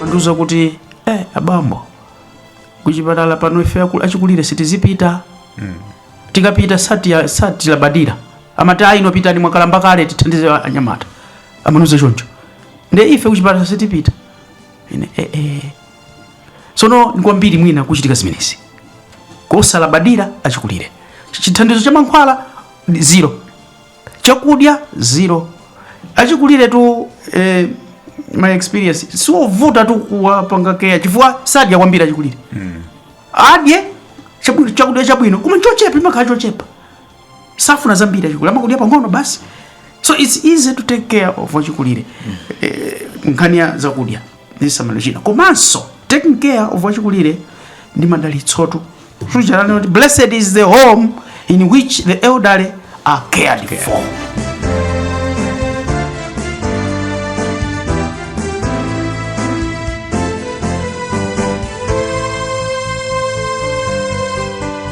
amandiuza kuti eh, abambo kuchipatala pano ife aku- achikulire sitizipita tikapita sati- satilabadira amati ayi inu pitani mwakalamba kale tithandize anyamata amandiuza choncho nde ife kuchipatala sitipita ine eh, eh. tsono ndi kwambiri mwina kuchitika zimenezi kosalabadira achikulire chithandizo cha mankhwala ndi zero chakudya zero achikuliretu eh, my experience siovutatu kuwapanga care chifukwa sadya kwambiri achikulire adye chabu- chakudya chabwino koma chochepa chimakhala chochepa safuna zambiri achikulire amakudya pang'ono basi so it's easy to take care of wachikulire mm. eh, nkhani ya zakudya ndi chisamaliro china komanso taking care of wachikulire ndi madalitsotu suchalani kuti blessed is the home in which the elderly are cared okay. for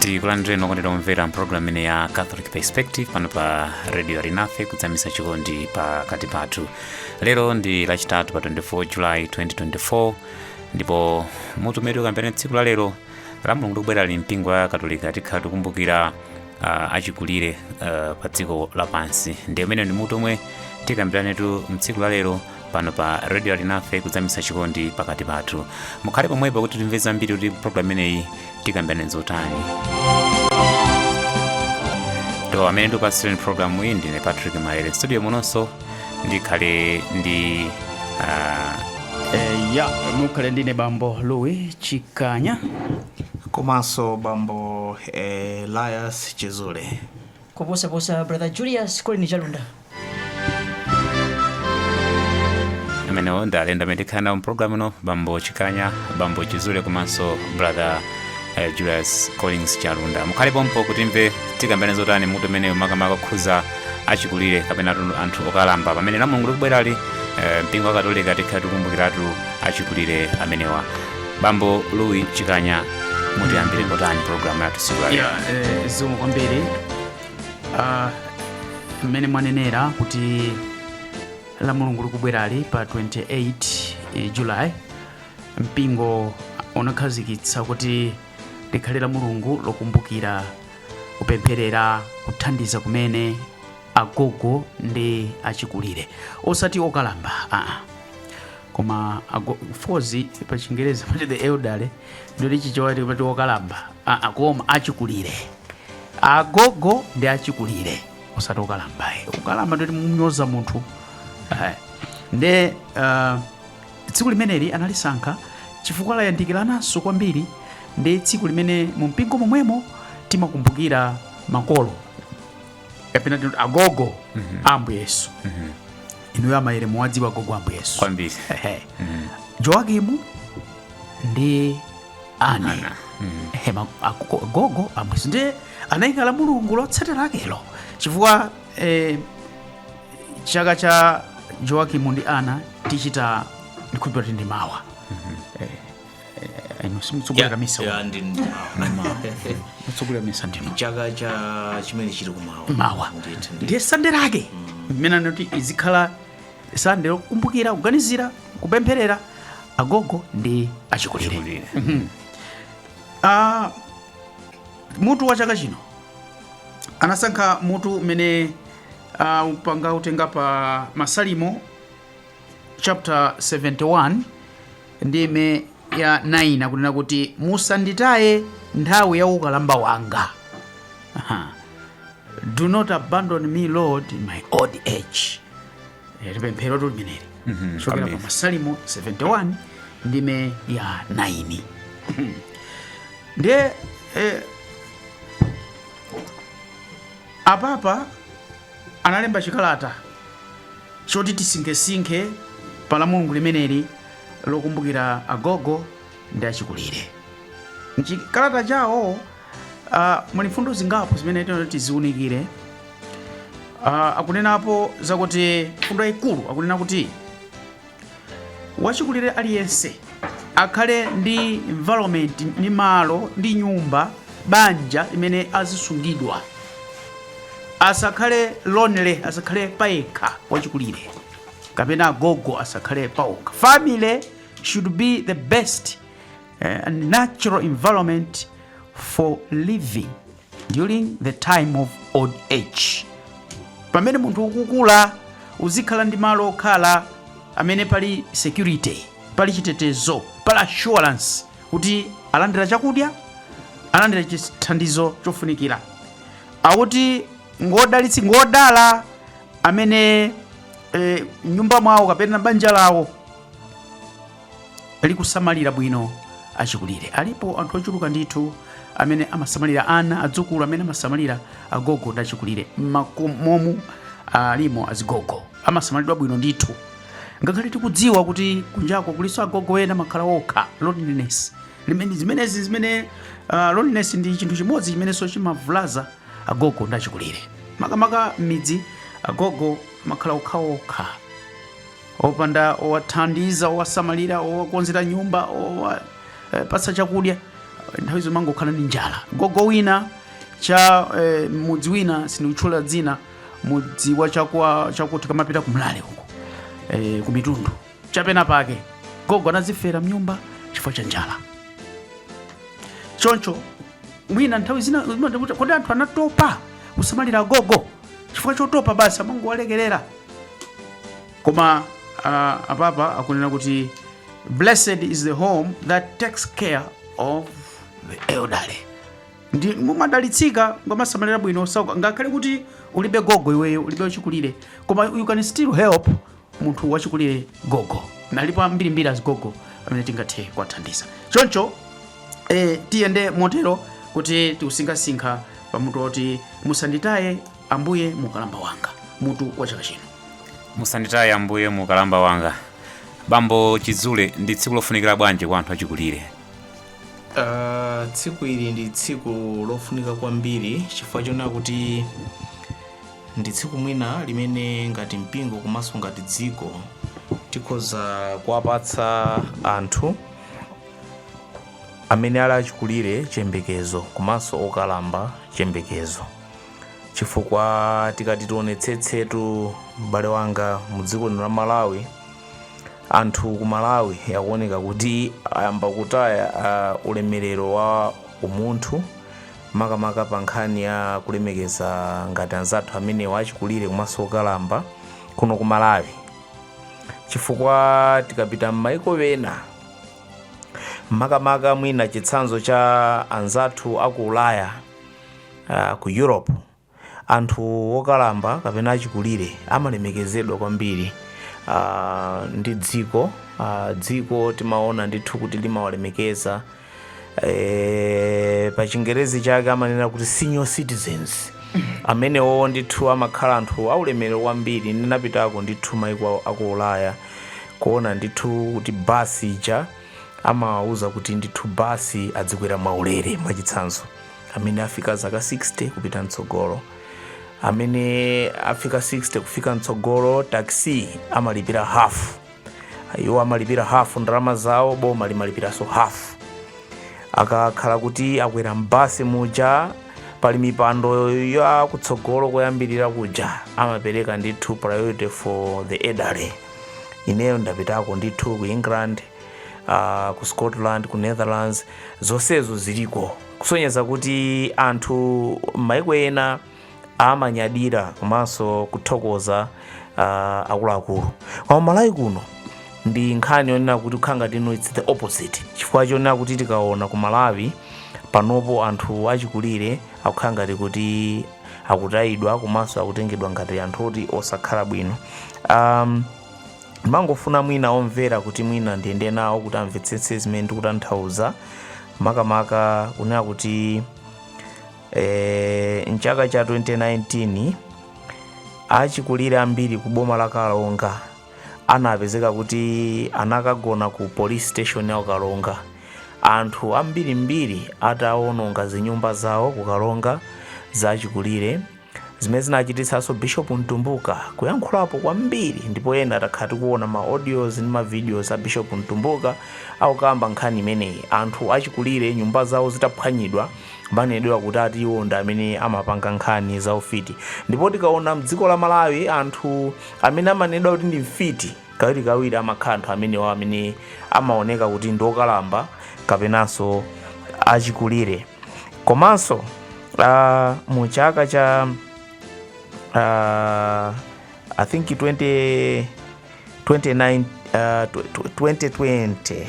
tikulandireni okondedwa omvera mpulogalamu ino ya catholic perspective pano pa radio alinafe kudzamisa chikondi pakati pathu lero ndi lachitatu pa 24 july 2024 ndipo mutu umene tikambirane tsiku la lero lamulungu likubwerali mpingo wa katolika tikhala tikumbukira uh, achikulire uh, pa dziko lapansi ndi umene ndi mutu omwe tikambiranetu mtsiku la lero pano pa radio alinafe kudzamisa chikondi pakati pathu mukhale pomwepo kuti timve zambiri kuti programu imeneyi tikambirane zotanitu amene ndikupatsireni programu iyi ndine patrick maere studio munonso ndikhale ndi ah, Eh, ya mukhale ndine bambo louis chikanya komanso bambo elias chizule kuposaposa brother julius collins chalunda amenewo ndi alendo amene tikhala nawo mpulogalamu ino bambo chikanya bambo chizule komanso brother eh, julius collins chalunda mukhale pompo kuti timve tikambirane zotani mutu umenewu makamaka kukhudza achikulire kapena atu- anthu okalamba pamene lamulungu likubwerali eh, mpingo wa katolika tikhala tikumbukiratu achikulire amenewa bambo louis chikanya mutiyambire kotani pulogalamu yathu tsiku lalero ya eh, zikomo kwambiri Ah, mmene mwanenera kuti la mulungu likubwerali pa 28 eh, july mpingo unakhazikitsa kuti likhale la mulungu lokumbukira kupempherera kuthandiza kumene agogo ndi achikulire osati okalamba aa koma of course pa chingerezi pati the elderly ndoti Chichewa chake pati okalamba aa koma achikulire agogo ndi achikulire osati okalamba ayi okalamba ndoti munyoza munthu Eh, nde eh, tsiku limeneli analisankha chifukwa layandikirananso kwambiri ndi tsiku limene mu mpingo momwemo timakumbukira makolo kapena tikuti agogo a ambuye yesu inuyo amayere muwadziwa agogo a ambuye yesu kwambiri Ehe. joakimu ndi ani Ana. hema akuko- gogo Ambuye Yesu ndiye anayika la mulungu lotsatira lakelo chifukwa eh, chaka cha joakimu ndi ana tichita ndikhulupira kuti ndi mawa Eh, eh, inu simutsogolera misa ya ndi mutsogolera misa ndino chaka cha chimene chili kumawa mawa Ndithu, ndithu. ndiye sande lake ndimene anati izikhala sande lokumbukira kuganizira kupempherera agogo ndi achikulire Chikulire. Ah, mutu wa chaka chino anasankha mutu umene anaupanga anautenga pa masalimo chapter 71 ndime ya 9 akunena kuti musanditaye nthawi ya ukalamba wanga Aha. do not abandon me lord in my old age Eh, ndi pemphero limeneli kuchokera pa amen. masalimo 71 ndime ya 9 ndiye eh, apapa analemba chikalata choti tisinkhesinkhe pa la mulungu limeneli lokumbukira agogo ndi achikulire. M'chikalata chawo uh, muli mfundo zingapo zimene tinati tiziunikire. Uh, akunenapo zakuti mfundo yayikulu akunena kuti wachikulire aliyense akhale ndi environment ndi malo ndi nyumba banja limene azisungidwa asakhale lonely asakhale payekha wachikulire kapena agogo asakhale paokha family should be the best eh, and natural environment for living during the time of old age pamene munthu ukukula uzikhala ndi malo okhala amene pali security pali chitetezo pali assurance kuti alandira chakudya alandira chithandizo chofunikira akuti ngodalitsi ngodala amene eh, m'nyumba mwawo kapena banja lawo likusamalira bwino achikulire alipo anthu ochuluka ndithu amene amasamalira ana adzukulu amene amasamalira agogo ndi achikulire mmakomomu alimo azigogo amasamalidwa bwino ndithu ngakhale tikudziwa kuti kunjako kulinso agogo ena amakhala okha loneliness limene zimenezi zimene uh, loneliness ndi chinthu chimodzi chimenenso chimavulaza Agogo ndi achikulire, makamaka m'midzi, agogo amakhala okhaokha, opanda owathandiza, owasamalira, owakonzera nyumba, owapatsa chakudya. Nthawi zina amangokhala ndi njala. Gogo wina cha eh, m'mudzi wina sindikutchula dzina, mudzi wa chakwa chakuti kamapita kumlale uko eh, ku mitundu chapena pake, gogo anazifera mnyumba chifukwa cha njala. Choncho mwina nthawi zina kodi anthu anatopa kusamalira agogo chifukwa chotopa basi amangowalekerera koma uh, apapa akunena kuti blessed is the home that takes care of the elderly ndi mumadalitsika mukamasamalira bwino osauka ngakhale kuti ulibe gogo iweyo ulibe wachikulire koma you can still help munthu wachikulire gogo alipo ambirimbiri azigogo amene tingathe kuwathandiza choncho e, tiyende motero kuti tikusinkhasinkha pamutu woti musanditaye ambuye mukalamba wanga mutu wa chaka chino musanditaye ambuye mukalamba wanga bambo chidzule ndi tsiku lofunikira bwanji kwa anthu achikulire Ah, tsiku ili ndi tsiku lofunika kwambiri chifukwa chonena kuti Ndi tsiku mwina limene ngati mpingo komanso ngati dziko tikhoza kuwapatsa anthu amene ali achikulire chiyembekezo komanso okalamba chiyembekezo chifukwa tikati tionetsetsetu m'bale wanga mu dziko lino la malawi anthu ku malawi akuoneka kuti ayamba kutaya uh, ulemerero wa umunthu makamaka pa nkhani ya kulemekeza ngati anzathu amenewa achikulire komanso okalamba kuno ku malawi chifukwa tikapita m'maiko ena makamaka mwina chitsanzo cha anzathu aku ulaya uh, ku europe Anthu okalamba kapena achikulire amalemekezedwa kwambiri ndi dziko. Dziko timaona ndithu kuti limawalemekeza. Pa chingerezi chake amanena kuti senior citizens. Amenewo ndithu amakhala anthu aulemerero kwambiri. Ndinapitako ndithu mayiko a ku Ulaya kuona ndithu kuti bus ija amawawuza kuti ndithu bus adzikwera mwaulere mwachitsanzo. amene afika zaka 60 kupita mtsogolo amene afika 60 kufika mtsogolo taxi amalipira half iwo amalipira half ndalama zawo boma limalipiranso half akakhala kuti akwera mbasi muja pali mipando ya kutsogolo koyambirira kuja amapereka ndithu priority for the elderly ineyo ndapitako ndithu ku england uh, ku scotland ku netherlands zonsezo ziliko kusonyeza kuti anthu m'maiko ena amanyadira komanso kuthokoza uh, akuluakulu koma malawi kuno ndi nkhani yonena kuti ikukhala ngati ino it's the opposite chifukwa chonena kuti tikaona ku malawi panopo anthu achikulire akukhala ngati kuti akutayidwa komanso akutengedwa ngati anthu oti osakhala bwino um, ndimangofuna mwina omvera kuti mwina ndiyende nawo kuti amvetsetse zimene ndikutanthauza makamaka kunena kuti eh, mchaka cha 2019 achikulire ambiri ku boma la Karonga anapezeka kuti anakagona ku police station ya ku Karonga anthu ambirimbiri atawononga zinyumba zawo ku Karonga za achikulire zimene zinachititsanso bishop mtumbuka kuyankhulapo kwambiri ndipo ena takhala tikuona ma audios ndi ma videos a bishop mtumbuka akukamba nkhani imeneyi anthu achikulire nyumba zawo zitaphwanyidwa kumanenedwa kuti ati iwo ndi amene amapanga nkhani za ufiti ndipo tikaona mdziko la malawi anthu amene amanenedwa kuti ndi mfiti kawirikawiri amakhala anthu amenewa amene amaoneka kuti ndi okalamba kapenanso achikulire komanso uh, mu chaka cha uh, i think 20, 29, uh, 2020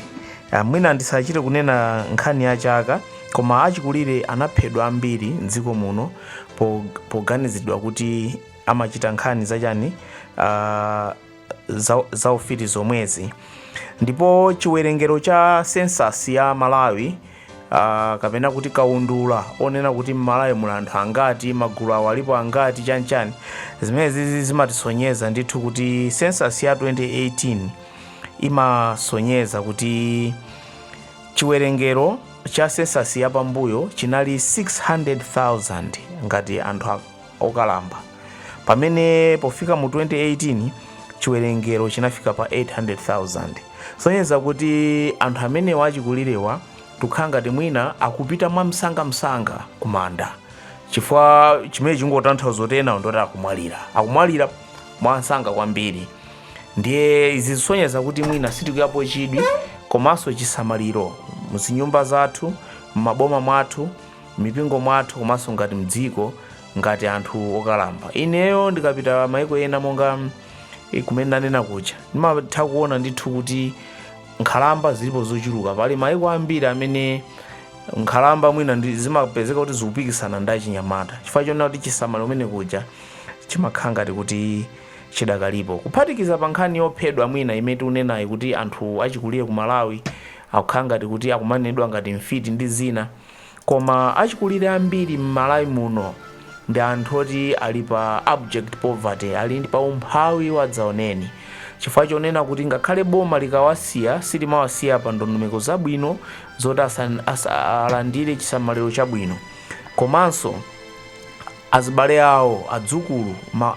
uh, mwina ndisachite kunena nkhani ya chaka koma achikulire anaphedwa ambiri mdziko muno po- poganizidwa kuti amachita nkhani zachani uh, za, za ufiti zomwezi ndipo chiwerengero cha census ya malawi uh, kapena kuti kaundula onena kuti mmalawi muli anthu angati magulu awo alipo angati chanchani zimenezi zimatisonyeza ndithu kuti census ya 2018 imasonyeza kuti chiwerengero cha census yapambuyo chinali 600000 ngati anthu a- okalamba, pamene pofika mu 2018 chiwerengero chinafika pa 800,000. Kusonyeza kuti anthu amenewa achikulirewa tikukhala ngati mwina akupita mwamsangamsanga kumanda chifukwa chimene chingotanthauza kuti enawo ndoti akumwalira akumwalira mwansanga kwambiri ndiye izi zisonyeza kuti mwina sitikuikapo chidwi komanso chisamaliro muzinyumba zathu m'maboma mwathu mipingo mwathu komanso ngati mdziko ngati anthu okalamba ineyo ndikapita maiko ena monga eh, kumene nanena kuja ndimatha kuona ndithu kuti nkhalamba zilipo zochuluka pali maiko ambiri amene nkhalamba mwina ndi- zimapezeka kuti zikupikisana ndi achinyamata chifukwa chonena kuti chisamaliro kumene kuja chimakhala ngati kuti chidakalipo kuphatikiza pa nkhani yophedwa mwina imene tikunenayi kuti anthu achikulire ku malawi akukhala ngati kuti akumanenedwa ngati mfiti ndi zina Koma achikulire ambiri m'Malawi muno ndi anthu oti ali pa abject poverty, ali ndi pa umphawi wadzaoneni, chifukwa chonena kuti ngakhale boma likawasiya silimawasiya pa ndondomeko zabwino zoti alandire chisamaliro chabwino komanso azibale awo, adzukulu,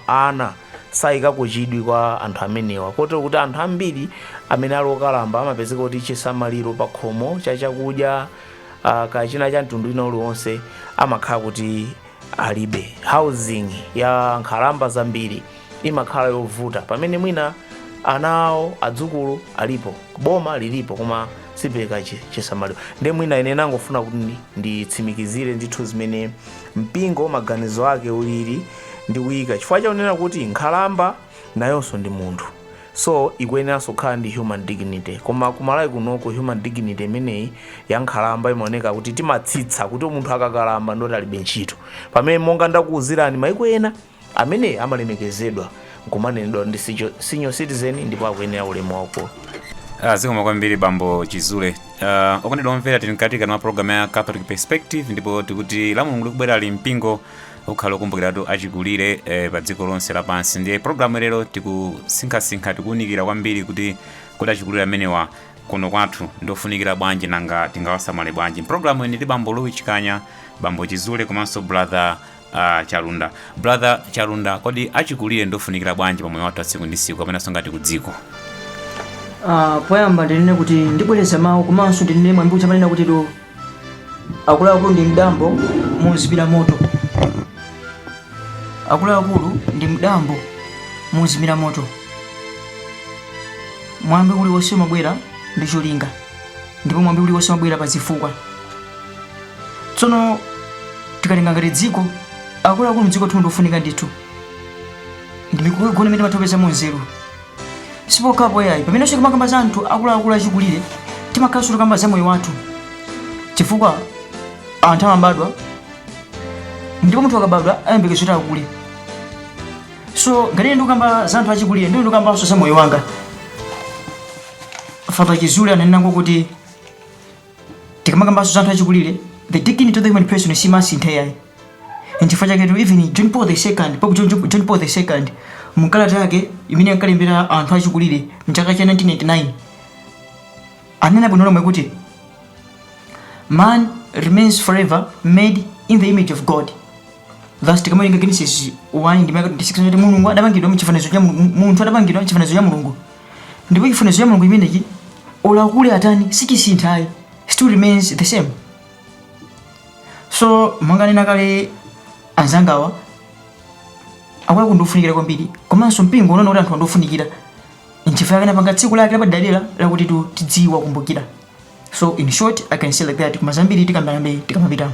ana sayikako chidwi kwa anthu amenewa kotero kuti anthu ambiri amene ali okalamba amapezeka kuti chisamaliro pakhomo cha chakudya, uh, kachina cha mtundu wina uliwonse amakhala kuti alibe housing ya nkhalamba zambiri imakhala yovuta pamene mwina ana awo adzukulu alipo boma lilipo koma sipereka chi- chisamaliro ndiye mwina ine nangofuna kuti ndi- nditsimikizire ndithu zimene mpingo maganizo ake ulili ndi kuyika chifukwa chakunena kuti nkhalamba nayonso ndi munthu so ikuyeneranso kukhala ndi human dignity koma ku Malawi kunoko human dignity imeneyi ya nkhalamba imaoneka kuti timatsitsa kuti munthu akakalamba ndoti alibe ntchito pamene monga ndakuuzirani maiko ena amene amalemekezedwa nkumanenedwa ndi sicho- senior citizen ndipo akuyenera ulemu waukulu Ah, zikomo kwambiri bambo chizule uh, okondedwa omvera tili mkati kani mwa programu ya catholic perspective ndipo tikuti lamulungu likubwera li mpingo ukhala ukumbukiratu achikulire eh, pa dziko lonse lapansi ndiye programu lero tikusinkhasinkha tikuwunikira kwambiri kuti kodi achikulire amenewa kuno kwathu ndofunikira bwanji nanga tingawasamale bwanji programu ino ndi bambo louis chikanya bambo chizule komanso brother uh, chalunda brother chalunda kodi achikulire ndofunikira bwanji pamoyo wathu atsiku ndi tsiku kapenanso ngati ku dziko Ah, poyamba ndinene kuti ndibwereza mawu komanso ndinene mwambi uja amanena kuti do akuluakulu ndi mdambo mozimira moto akuluakulu ndi mdambo mozimira moto mwambi uliwonse umabwera ndi cholinga ndipo mwambi uliwonse umabwera pa zifukwa tsono tikatenga ngati dziko akuluakulu mdziko lathumu ndiofunika ndithu ndi mikoko yogona imene timatopezamo nzeru sipokhapo yayi pamenenso timakamba za anthu akuluakulu achikulire timakhalanso tikukamba za moyo wathu chifukwa anthu amabadwa ndipo munthu akabadwa ayembekeza kuti akule so ngati ine ndikukamba za anthu achikulire ndiye ndikukambanso za moyo wanga fata chizule ananenako kuti tikamakambanso za anthu achikulire the dignity of the human person simasintha yayi nchifukwa chaketu even john paul the second pope john, john, john paul the second mkalata yake imene ankalembera anthu achikulire mchaka cha 1999 anena bwino lomwe kuti man remains forever made in the image of god thus tikamawerenga genesis 1 ndime ya 26 kuti mulungu adapangidwa mchifanizo cha Mulungu- munthu adapangidwa mchifanizo cha mulungu ndipo chifanizo cha mulungu chimenechi olo akule atani sichisintha ayi still remains the same so monga anena kale anzangawa akuluakulu ndi ofunikira kwambiri komanso mpingo unaona kuti anthuwa ndi ofunikira nchifukwa chake unapanga tsiku lake lapadera lakuti tidziwakumbukira so in short i can say like that koma zambiri tikambabe tikamapitamo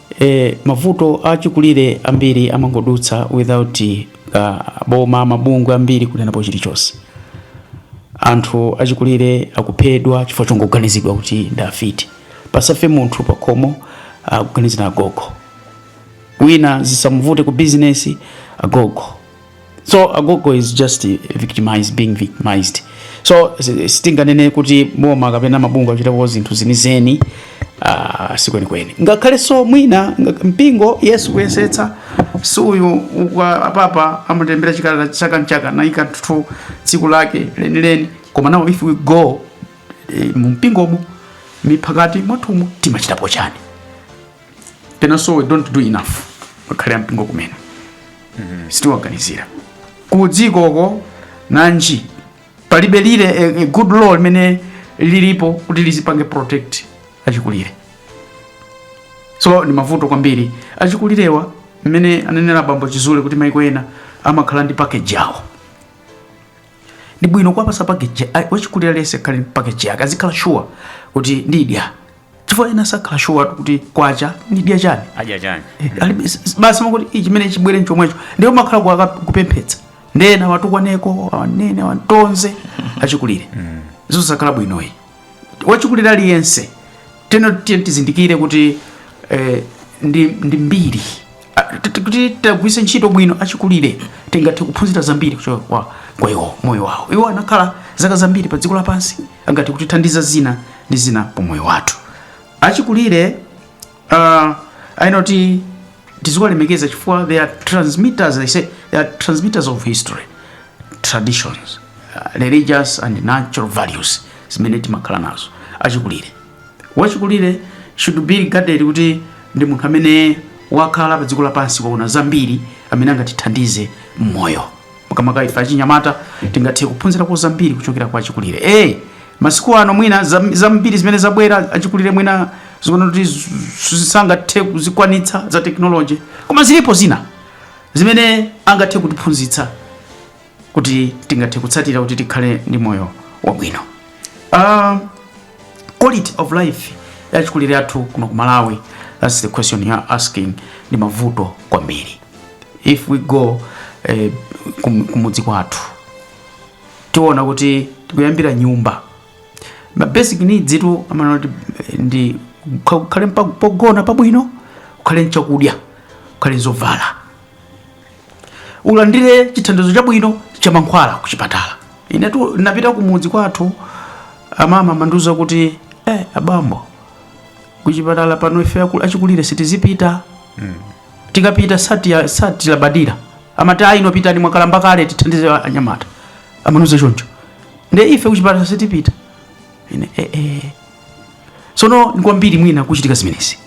E, mavuto achikulire ambiri amangodutsa without aboma mabungwe ambiri kunenapo chilichonse. Anthu achikulire akuphedwa chifukwa chongoganizidwa kuti ndi afiti. Pasafe munthu pakhomo akuganizira agogo, wina zisamuvute ku bizinesi agogo so agogo is just victimized being victimized so sitinganene kuti boma kapena mabungwe achitapo zinthu zenizeni uh, sikwenikweni ngakhalenso mwina mpingo yes ukuyesetsa si uyu apapa amatilembera chikalata chaka nchaka anaikatu tsiku lake lenileni koma nawo if we go e, eh, mumpingomo miphakati mwathumo timachitapo chani penanso we don't do enough ngakhale ampingo kumene sitiwaganizira ku dzikoko nanji palibe really eh, eh, good law limene lilipo kuti lizipange protect achikulire so ndi mavuto kwambiri achikulirewa mmene ananena bambo chizule kuti maiko ena amakhala ndi package yawo ndi bwino kuwapasa package a- wachikulira yense akhale ndi package yake azikhala sure kuti ndidya chifukwa ena sakhala sure kuti kwacha ndidya chani adya chani eh, alibe basi amakuti chimene chibwere nchomwecho ndiye umakhala kuaka- kupemphetsa ndiye ena watukwaneko awanene awatonze achikulire izo sizikhala bwinoyi wachikulire aliyense then tiyeni tizindikire kuti eh, ndi, ndi mbiri kuti tawagwiritsa ntchito bwino achikulire tingathe kuphunzira zambiri kuchoka kwa kwa iwo moyo wawo iwo anakhala zaka zambiri pa dziko lapansi angathe kutithandiza zina ndi zina pa moyo wathu achikulire uh, ayenera kuti tiziwalemekeza chifukwa they are transmitters they say they are transmitters of history traditions uh, religious and cultural values zimene timakhala nazo achikulire wachikulire should be regarded kuti ndi munthu amene wakhala pa dziko lapansi waona zambiri amene angatithandize mmoyo makamaka ife achinyamata tingathe kuphunzirako zambiri kuchokera kwa achikulire hey, masiku ano mwina zam- zambiri zimene zabwera achikulire mwina zikuoneka kuti z- z- sangathe kuzikwanitsa za technology koma zilipo zina zimene angathe kutiphunzitsa kuti tingathe kutsatira kuti tikhale ndi moyo wabwino uh, quality of life yachikulire athu kuno ku malawi that's the question you are asking ndi mavuto kwambiri if we go eh, kum- kumudzi kwathu tiona kuti tikuyambira nyumba ma basic needs itu amanena kuti eh, ndi ukha- ukhale mpa- pogona pabwino ukhale nchakudya ukhale nzovala ulandire chithandizo chabwino cha mankhwala ku chipatala inetu ndapita ku mudzi kwathu amama amandiuza kuti eh, abambo ku chipatala pano ife aku- achikulire sitizipita tikapita sati- satilabadira amati ayi inu pitani mwakalamba kale tithandize anyamata amandiuza choncho nde ife ku chipatala sitipita ine eh, eh, tsono ndi kwambiri mwina kuchitika zimenezi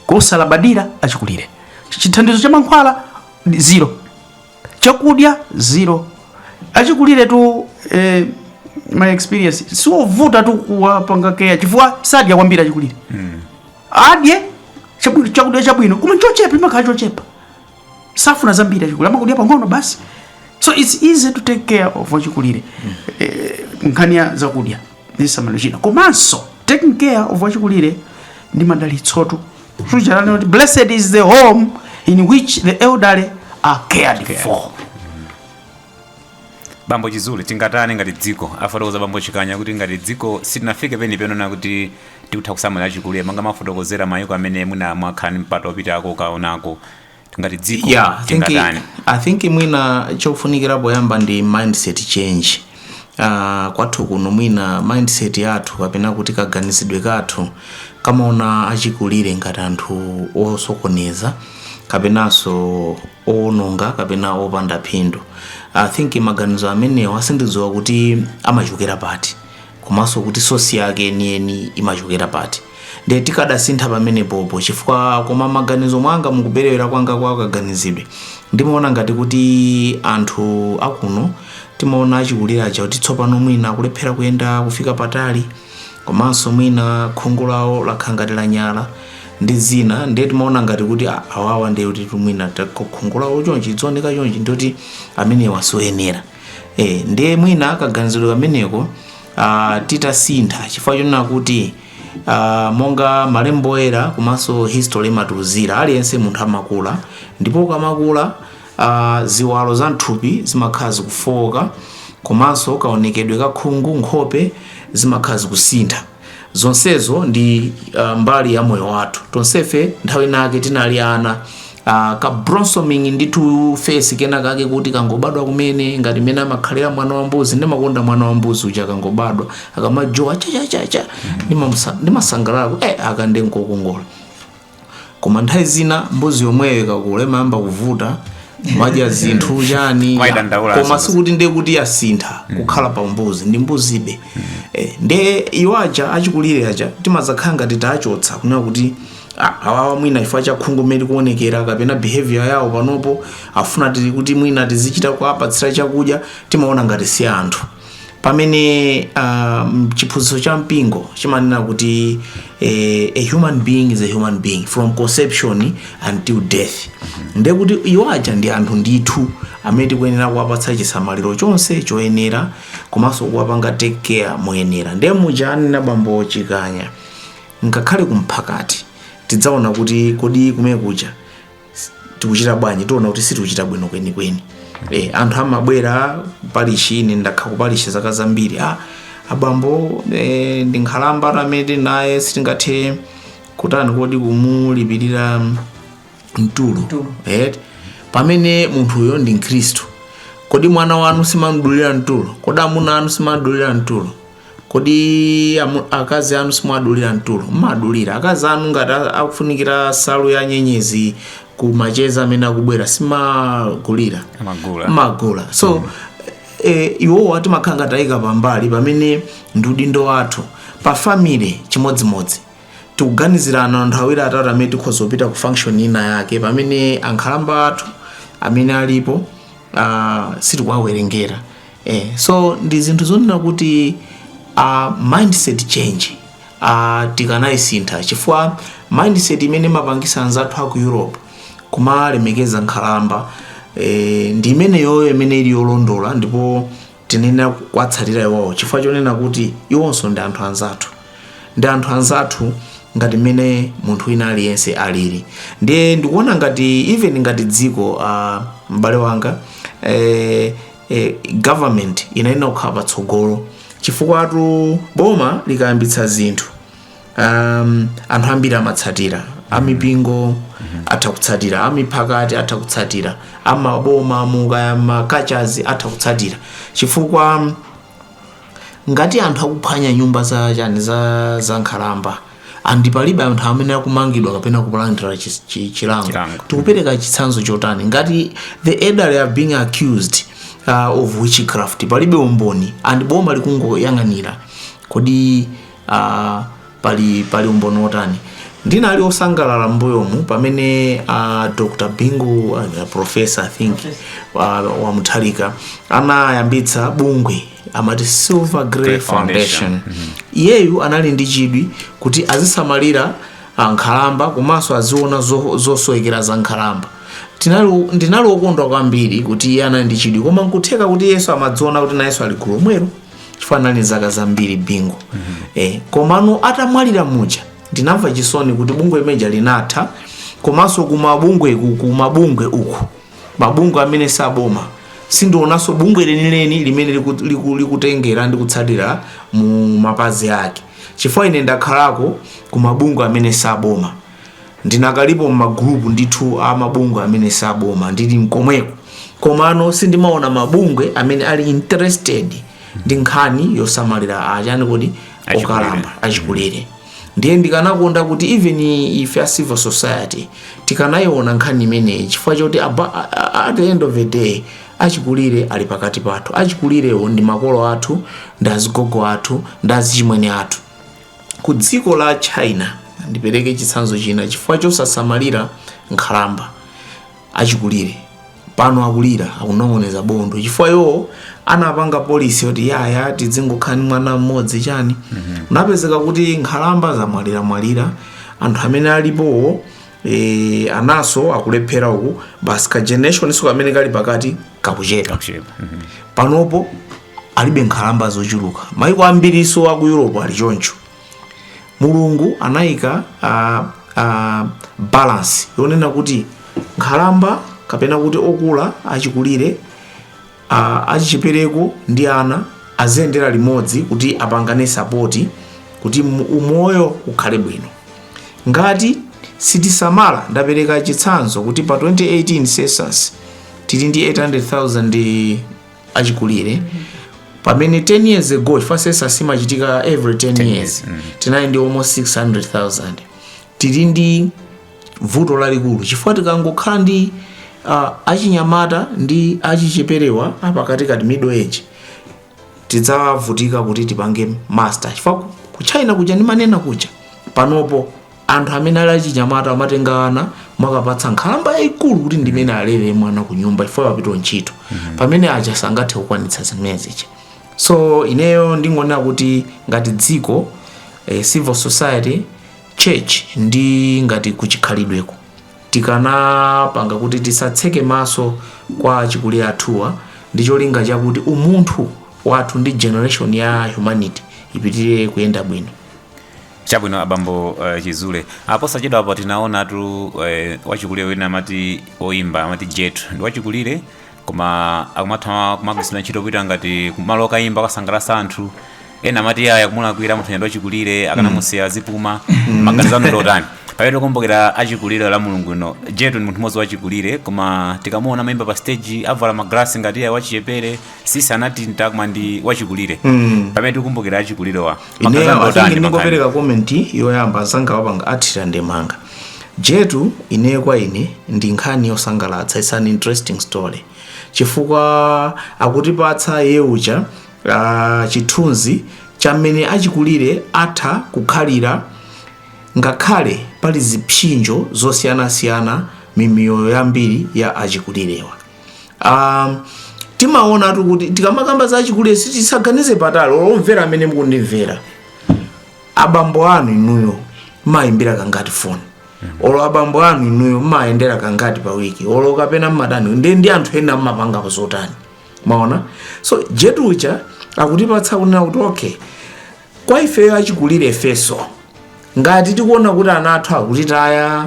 kosalabadira achikulire chithandizo cha mankhwala ndi zero chakudya zero achikulire tu eh, my experience siwovuta tu kuwapanga care chifukwa sadya kwambiri achikulire adye chabu- chakudya chabwino koma chochepa chimakhala chochepa safuna zambiri achikulire amakudya pang'ono basi so its easy to take care of wachikulire mm. eh, nkhani ya zakudya chisamalo china komanso taking care of achikulire ndi madalitsotu suchalani kuti blessed is the home in which the elderly are cared for bambo chizule tingatani ngati dziko afotokoza bambo chikanya kuti ngati dziko sitinafike penipeni pena kuti tikutha kusamala achikulire monga mumafotokozera mayiko amene mwina mwakhala ndi mpata opitako kukaonako ngati dziko yeah, I think, tingatani I think mwina chofunikira poyamba ndi mindset change uh, kwathu kuno mwina mindset yathu kapena kuti kaganizidwe kathu kamaona achikulire ngati anthu osokoneza kapenanso owononga kapena opanda phindu i think maganizo amenewa sindidziwa kuti amachokera pati komanso kuti sosi yake yeniyeni imachokera pati nde tikadasintha pamenepopo chifukwa kuma maganizo mwanga mukuperewera kwanga kwa kaganizidwe ndimaona ngati kuti anthu akuno timaona achikulire aja kuti tsopano mwina akulephera kuyenda kufika patali komanso mwina khungu lawo lakhala ngati lanyala ndi zina ndiye timaona ngati kuti "Ah, awawa ndiye kuti mwina khungu lawo chonchi lizioneka chonchi ndiye kuti amenewa sioyenera e, ndiye mwina kaganizidwe kameneko ah, titasintha chifukwa chonena kuti ah, monga malembo oyera komanso history imatiuzira aliyense munthu amakula ndipo ukamakula a Ziwalo za m'thupi zimakhala zikufooka komanso kaonekedwe ka khungu, nkhope zimakhala zikusintha. Zonsezo ndi ah, mbali ya moyo wathu. Tonsefe nthawi inaake tinali ana ah, ka blossoming ndithu face kena kake kuti kangobadwa kumene ngati mmene amakhalira mwana wa mbuzi ndimakonda mwana wa mbuzi uja kangobadwa akamajowa chachachacha ndimamusa- ndimasangalala kuti, eh, aka nde nkokongola koma nthawi zina mbuzi yomweyo ikakula imayamba kuvuta imadya zinthu chani Mwayidandaula koma zonse. sikuti ndiye kuti yasintha kukhala pa mbuzi ndi mbuzibe eh, ndiye iwo aja achikulire aja timadzakhala ngati tachotsa kunena kuti "Ah, awawa mwina chifukwa cha khungu mmene likuonekera kapena behavior yawo panopo akufuna tili kuti mwina tizichita kuwapatsira chakudya timaona ngati si anthu pamene um, chiphunzitso cha mpingo chimanena kuti eh, a human being is a human being from conception until death nde kuti iwo aja ndi anthu ndithu amene tikuyenera kuwapatsa chisamaliro chonse choyenera komanso kuwapanga take care moyenera nde muja anena bambo chikanya ngakhale kumphakati tidzaona kuti kodi kumene kuja tikuchita bwanji tiona kuti sitikuchita bwino kwenikweni e, anthu amabwera palishi ine ndakhala kupalishi zaka zambiri ah, abambo e, ndi nkhalamba athu amene tili naye sitingathe kutani kodi kumulipirira mtulo Mtulo. right? pamene munthuyo ndi mkhristu kodi mwana wanu simamdulira mtulo kodi amuna anu simadulira mtulo kodi amu- akazi anu simuwadulira mtulo mmadulira akazi anu ngati a- akufunikira nsalu ya nyenyezi ku macheza amene akubwera simagulira Amagula. magula so eh, iwowo timakhala ngati tayika pambali pamene ndi udindo wathu pa family chimodzimodzi tikuganizirana anthu awiri atatu amene tikhoza kupita ku function ina yake pamene ankhalamba athu amene alipo uh, sitikuwawerengera eh, so ndi zinthu zonena kuti uh, mindset change uh, tikanayisintha chifukwa mindset imene imapangitsa anzathu aku europe kumalemekeza nkhalamba eh, ndi imeneyoyo imene ili yolondola ndipo tinayenera kuwatsatira iwowo chifukwa chonena kuti iwonso ndi anthu anzathu ndi anthu anzathu ngati mmene munthu wina aliyense alili ndiye ndikuona ngati even ngati dziko uh, m'bale wanga eh, eh, government inayenera kukhala patsogolo chifukwatu boma likayambitsa zinthu um, anthu ambiri amatsatira amipingo atha kutsatira amiphakati atha kutsatira amaboma mu kaya makachazi atha kutsatira chifukwa ngati anthu akuphwanya nyumba za chani za za nkhalamba and palibe anthu amene akumangidwa kapena kulandira chi- chi- chilango Chilango. tikupereka chitsanzo chotani ngati the elderly are being accused uh, of witchcraft palibe umboni and boma likungoyang'anira kodi uh, pali pali umboni wotani ndinali osangalala mbuyomu pamene uh, dr bingu uh, professor i think uh, wa mutharika anayambitsa bungwe lomati silver grey Grey Foundation. foundation iyeyu anali ndi chidwi kuti azisamalira uh, nkhalamba komanso aziona zo- zosowekera za nkhalamba Tinali- ndinali okondwa kwambiri kuti iye anali ndi chidwi koma nkutheka kuti iyenso amadziona kuti nayenso ali gulu lomwero chifukwa anali ndi zaka zambiri bingu eh, komano atamwalira muja ndinamva chisoni kuti bungwe limeja linatha komanso kumabungwe ku- kumabungwe uku mabungwe amene si aboma sindionanso bungwe lenileni limene liku- liku- likutengera ndi kutsatira mu mapazi ake chifukwa ine ndakhalako kumabungwe amene si aboma Ndinakalipo mma group ndithu a mabungwe amene si aboma ndili mkomweko komano sindimaona mabungwe amene ali interested ndi nkhani yosamalira achani kodi okalamba achikulire ndiye ndikanakonda kuti even ife a civil society tikanayiona nkhani imeneyi chifukwa choti aba- a- a- at the end of the day achikulire ali pakati pathu achikulirewo ndi makolo athu ndi azigogo athu ndi azichimwene athu ku dziko la china ndipereke chitsanzo china chifukwa chosasamalira nkhalamba achikulire pano akulira akunong'oneza bondo chifukwa iwo anapanga policy yoti yaya tizingokhala ndi mwana mmodzi chani kunapezeka kuti nkhalamba zamwaliramwalira anthu amene alipowo e, anaso akulephera uku basi ka generation nso kamene kali pakati kakuchepa. Mhm. panopo alibe nkhalamba zochuluka maiko ambiriso aku europe ali choncho mulungu anayika uh, uh, balance yonena kuti nkhalamba kapena kuti okula achikulire A achichepereko ndi ana aziyendera limodzi kuti apangane sapoti kuti mu- umoyo ukhale bwino. Ngati sitisamala, ndapereka chitsanzo kuti pa 2018 census tili ndi 800,000 achikulire pamene 10 years ago chifukwa census imachitika every 10, years tinali ndi almost 600,000 tili ndi vuto lalikulu chifukwa tikangokhala ndi uh, achinyamata ndi achicheperewa apakatikati middle age tidzavutika kuti tipange master chifukwa ku china kuja ndimanena kuja panopo anthu amene ali achinyamata amatenga mwana kukapatsa nkhalamba yayikulu kuti ndimene alere mwana ku nyumba chifukwa apita ku ntchito pamene aja sangathe kukwanitsa zimenezi so ineyo ndingonena kuti ngati dziko eh, civil society church ndi ngati kuchikhalidweko tikanapanga kuti tisatseke maso kwa achikulire athuwa ndi cholinga chakuti umunthu wathu ndi generation ya humanity ipitirire kuyenda bwino chabwino abambo uh, chizule aposachedwapa tinaonatu uh, wachikulire wina amati oimba amati jetu ndi wachikulire koma akumatha kumagwiritsidwa ntchito kupita ngati kumalo okayimba kukasangalatsa anthu ena amati aya kumulakwira munthu ndi wachikulire akanamusiya azipuma maganizo anu ndi otani pamene tikumbukira achikulire la mulungu lino jetu ndi munthu mmodzi wachikulire koma tikamuona akuyimba pa stage avala magalasi ngati iya wachichepere tsitsi analitita koma ndi wachikulire pamene tikumbukira achikulirewa maganizo anu ndi otani ineyo ndingopereka komenti yoyamba anzangawa apanga athira ndemanga Jetu ineyo kwa ine ndi nkhani yosangalatsa it's an interesting story chifukwa akutipatsa iye uja uh, chithunzi cha mmene achikulire atha kukhalira ngakhale pali zipsinjo zosiyanasiyana m'miyoyo yambiri ya achikulirewa um, timaonatu kuti tikamakamba za achikulire tisaganize patali omvera amene mukundimvera abambo anu inuyo mmayimbira kangati foni olo abambo anu inuyo mmayendera kangati pa wiki olo kapena mmatani ndi ndi anthu ena mmapanga nazo zotani mwaona so jetu uja akutipatsa kunena kuti okay kwa ifeyo achikulire ifeso ngati tikuona kuti ana athu akutitaya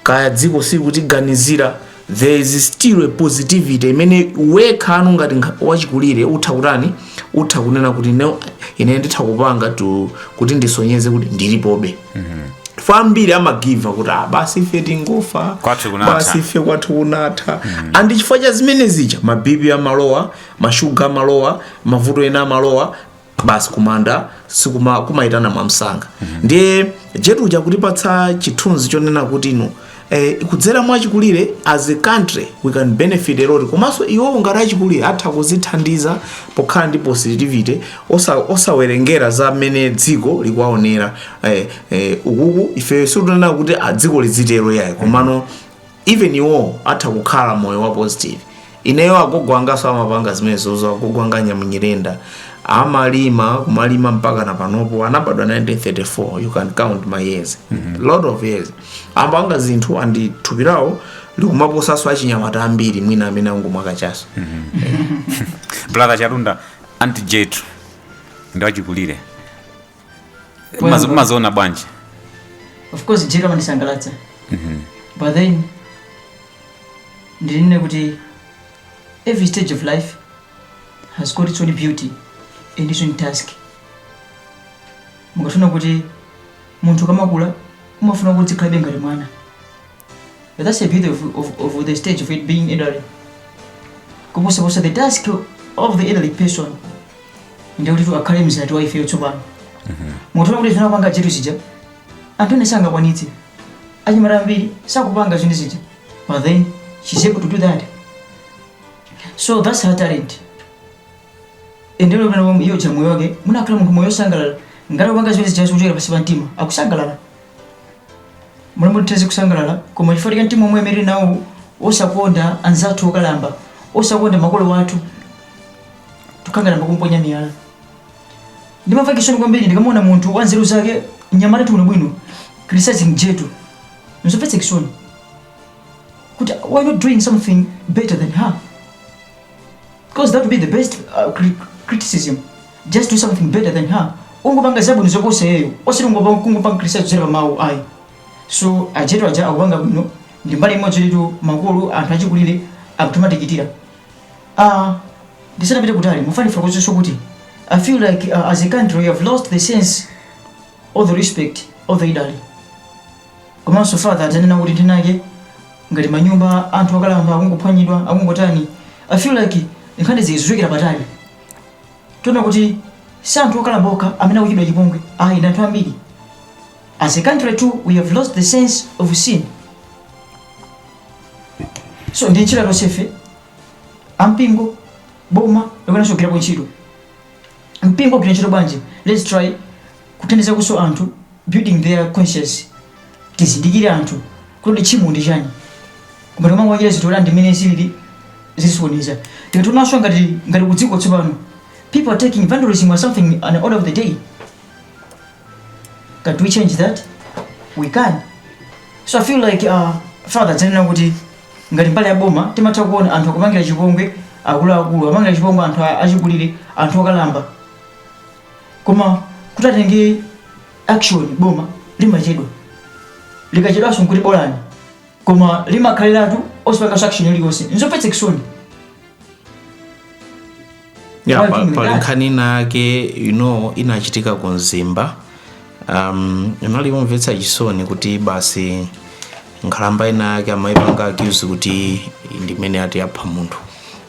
kaya dziko sikutiganizira there is still a positivity imene wekhanu ngati nkha- wachikulire utha kutani utha kunena kuti no ine nditha kupanga to- kuti ndisonyeze kuti ndilipobe chifukwa ambiri amagiva up kuti ah, basi ife tingofa basi ife kwathu kunatha and chifukwa cha zimene zija ma BP amalowa mashuga amalowa mavuto ena amalowa basi kumanda si kumaitana mwamsanga ndiye jetu uja akutipatsa chithunzi chonena kuti no eh, kudzera mwa achikulire as a country we can benefit a lot komanso iwowo ngati achikulire atha kuzithandiza pokhala ndi positivity osa, osawerengera za mmene dziko likuwaonera eh, eh, ukuku ifeyo sitikunena kuti ah, dziko lizitero yayi komano even iwowo atha kukhala moyo wa positive ineyo agogo angaso amapanga zimenezozo agogo anga nyamunyirenda amalima kumalima mpaka na panopo anabadwa 1934 you can count how many years lot of years amapanga zinthu andi thupi lawo likumaposaso achinyamata ambiri mwina amene angomwa kachaso brother Chatunda anti jetu ndi wachikulire mumaziona bwanji of course Jetu amandisangalatsa but then ndinene kuti every stage of life has got its own beauty and its own task mukafuna kuti munthu akamakula umafuna kuti azikhalabe ngati mwana But that's the beauty of, of, of the stage of it being elderly. Kuposa posa the task of the elderly person ndi kuti akhale mzati wa ifeyo tsopano. Munthu wakuti akupanga chinthu chija anthu ena sangakwanitse. Anyamata ambiri sakupanga zinthu zija. But then she's able to do that. So that's her talent. Endero limene iyo cha moyo wake munakhala munthu moyo wosangalala ngati kupanga zinthu zija zochokera pansi pa mtima akusangalala. Mulungu titha kusangalala, koma chifukwa cha mtima omwe amene tili nawo osakonda anzathu okalamba, osakonda makolo athu, tikangalamba kumponya miyala. Ndimamva chisoni kwambiri ndikamaona munthu wa nzeru zake, mnyamatatu bwinobwino, criticizing Jetu. Nzomvetsa chisoni. Kuti why not doing something better than her? Because that would be the best uh, cri criticism. Just do something better than her. Ungopanga zabwino zoposa iyeyo. Osati ungopanga kungopanga criticize zera pamawu ayi. So ajetu aja akupanga bwino ndi mbali imodzi litu makolo anthu achikulire akutumatikitira. Ah, ndisanapite kutali ndimafuna kufotokozanso kuti I feel like uh, as a country we have lost the sense of the respect of the elderly. Komanso father ananena kuti nthawi inake ngati manyumba anthu okalamba akungophwanyidwa akungotani I feel like nkhani zija zikuchokera patali tiona kuti si anthu okalamba okha amene akuchitidwa chipongwe ayi ndi anthu ambiri as a country too we have lost the sense of sin so ndi ntchito ya tonsefe ampingo boma likuyenanso kugwirapo ntchito mpingo ugwira ntchito bwanji let's try kuthandizakonso anthu building their conscience tizindikire anthu kuti tchimo ndi chani koma tikumangowachita zinthu kuti ndimene zilili zisonyeza tikationanso ngati ngati kudziko tsopano people are taking vandalism or something an order of the day can we change that we can so i feel like uh, father ananena kuti Ngati mbali ya boma, timatha kuona anthu akupangira chipongwe akuluakulu, akupangira chipongwe anthu achikulire, anthu okalamba. Koma kuti atenge action boma limachedwa. Likachedwanso nkuti bolani. Koma limakhaliratu osapanganso action iliyonse. Nzomvetsa chisoni. ya pa- pali nkhani inayake you know inachitika ku mzimba um, inali yomvetsa chisoni kuti basi nkhalamba inayake amayipanga accuse kuti ndimene ati apha munthu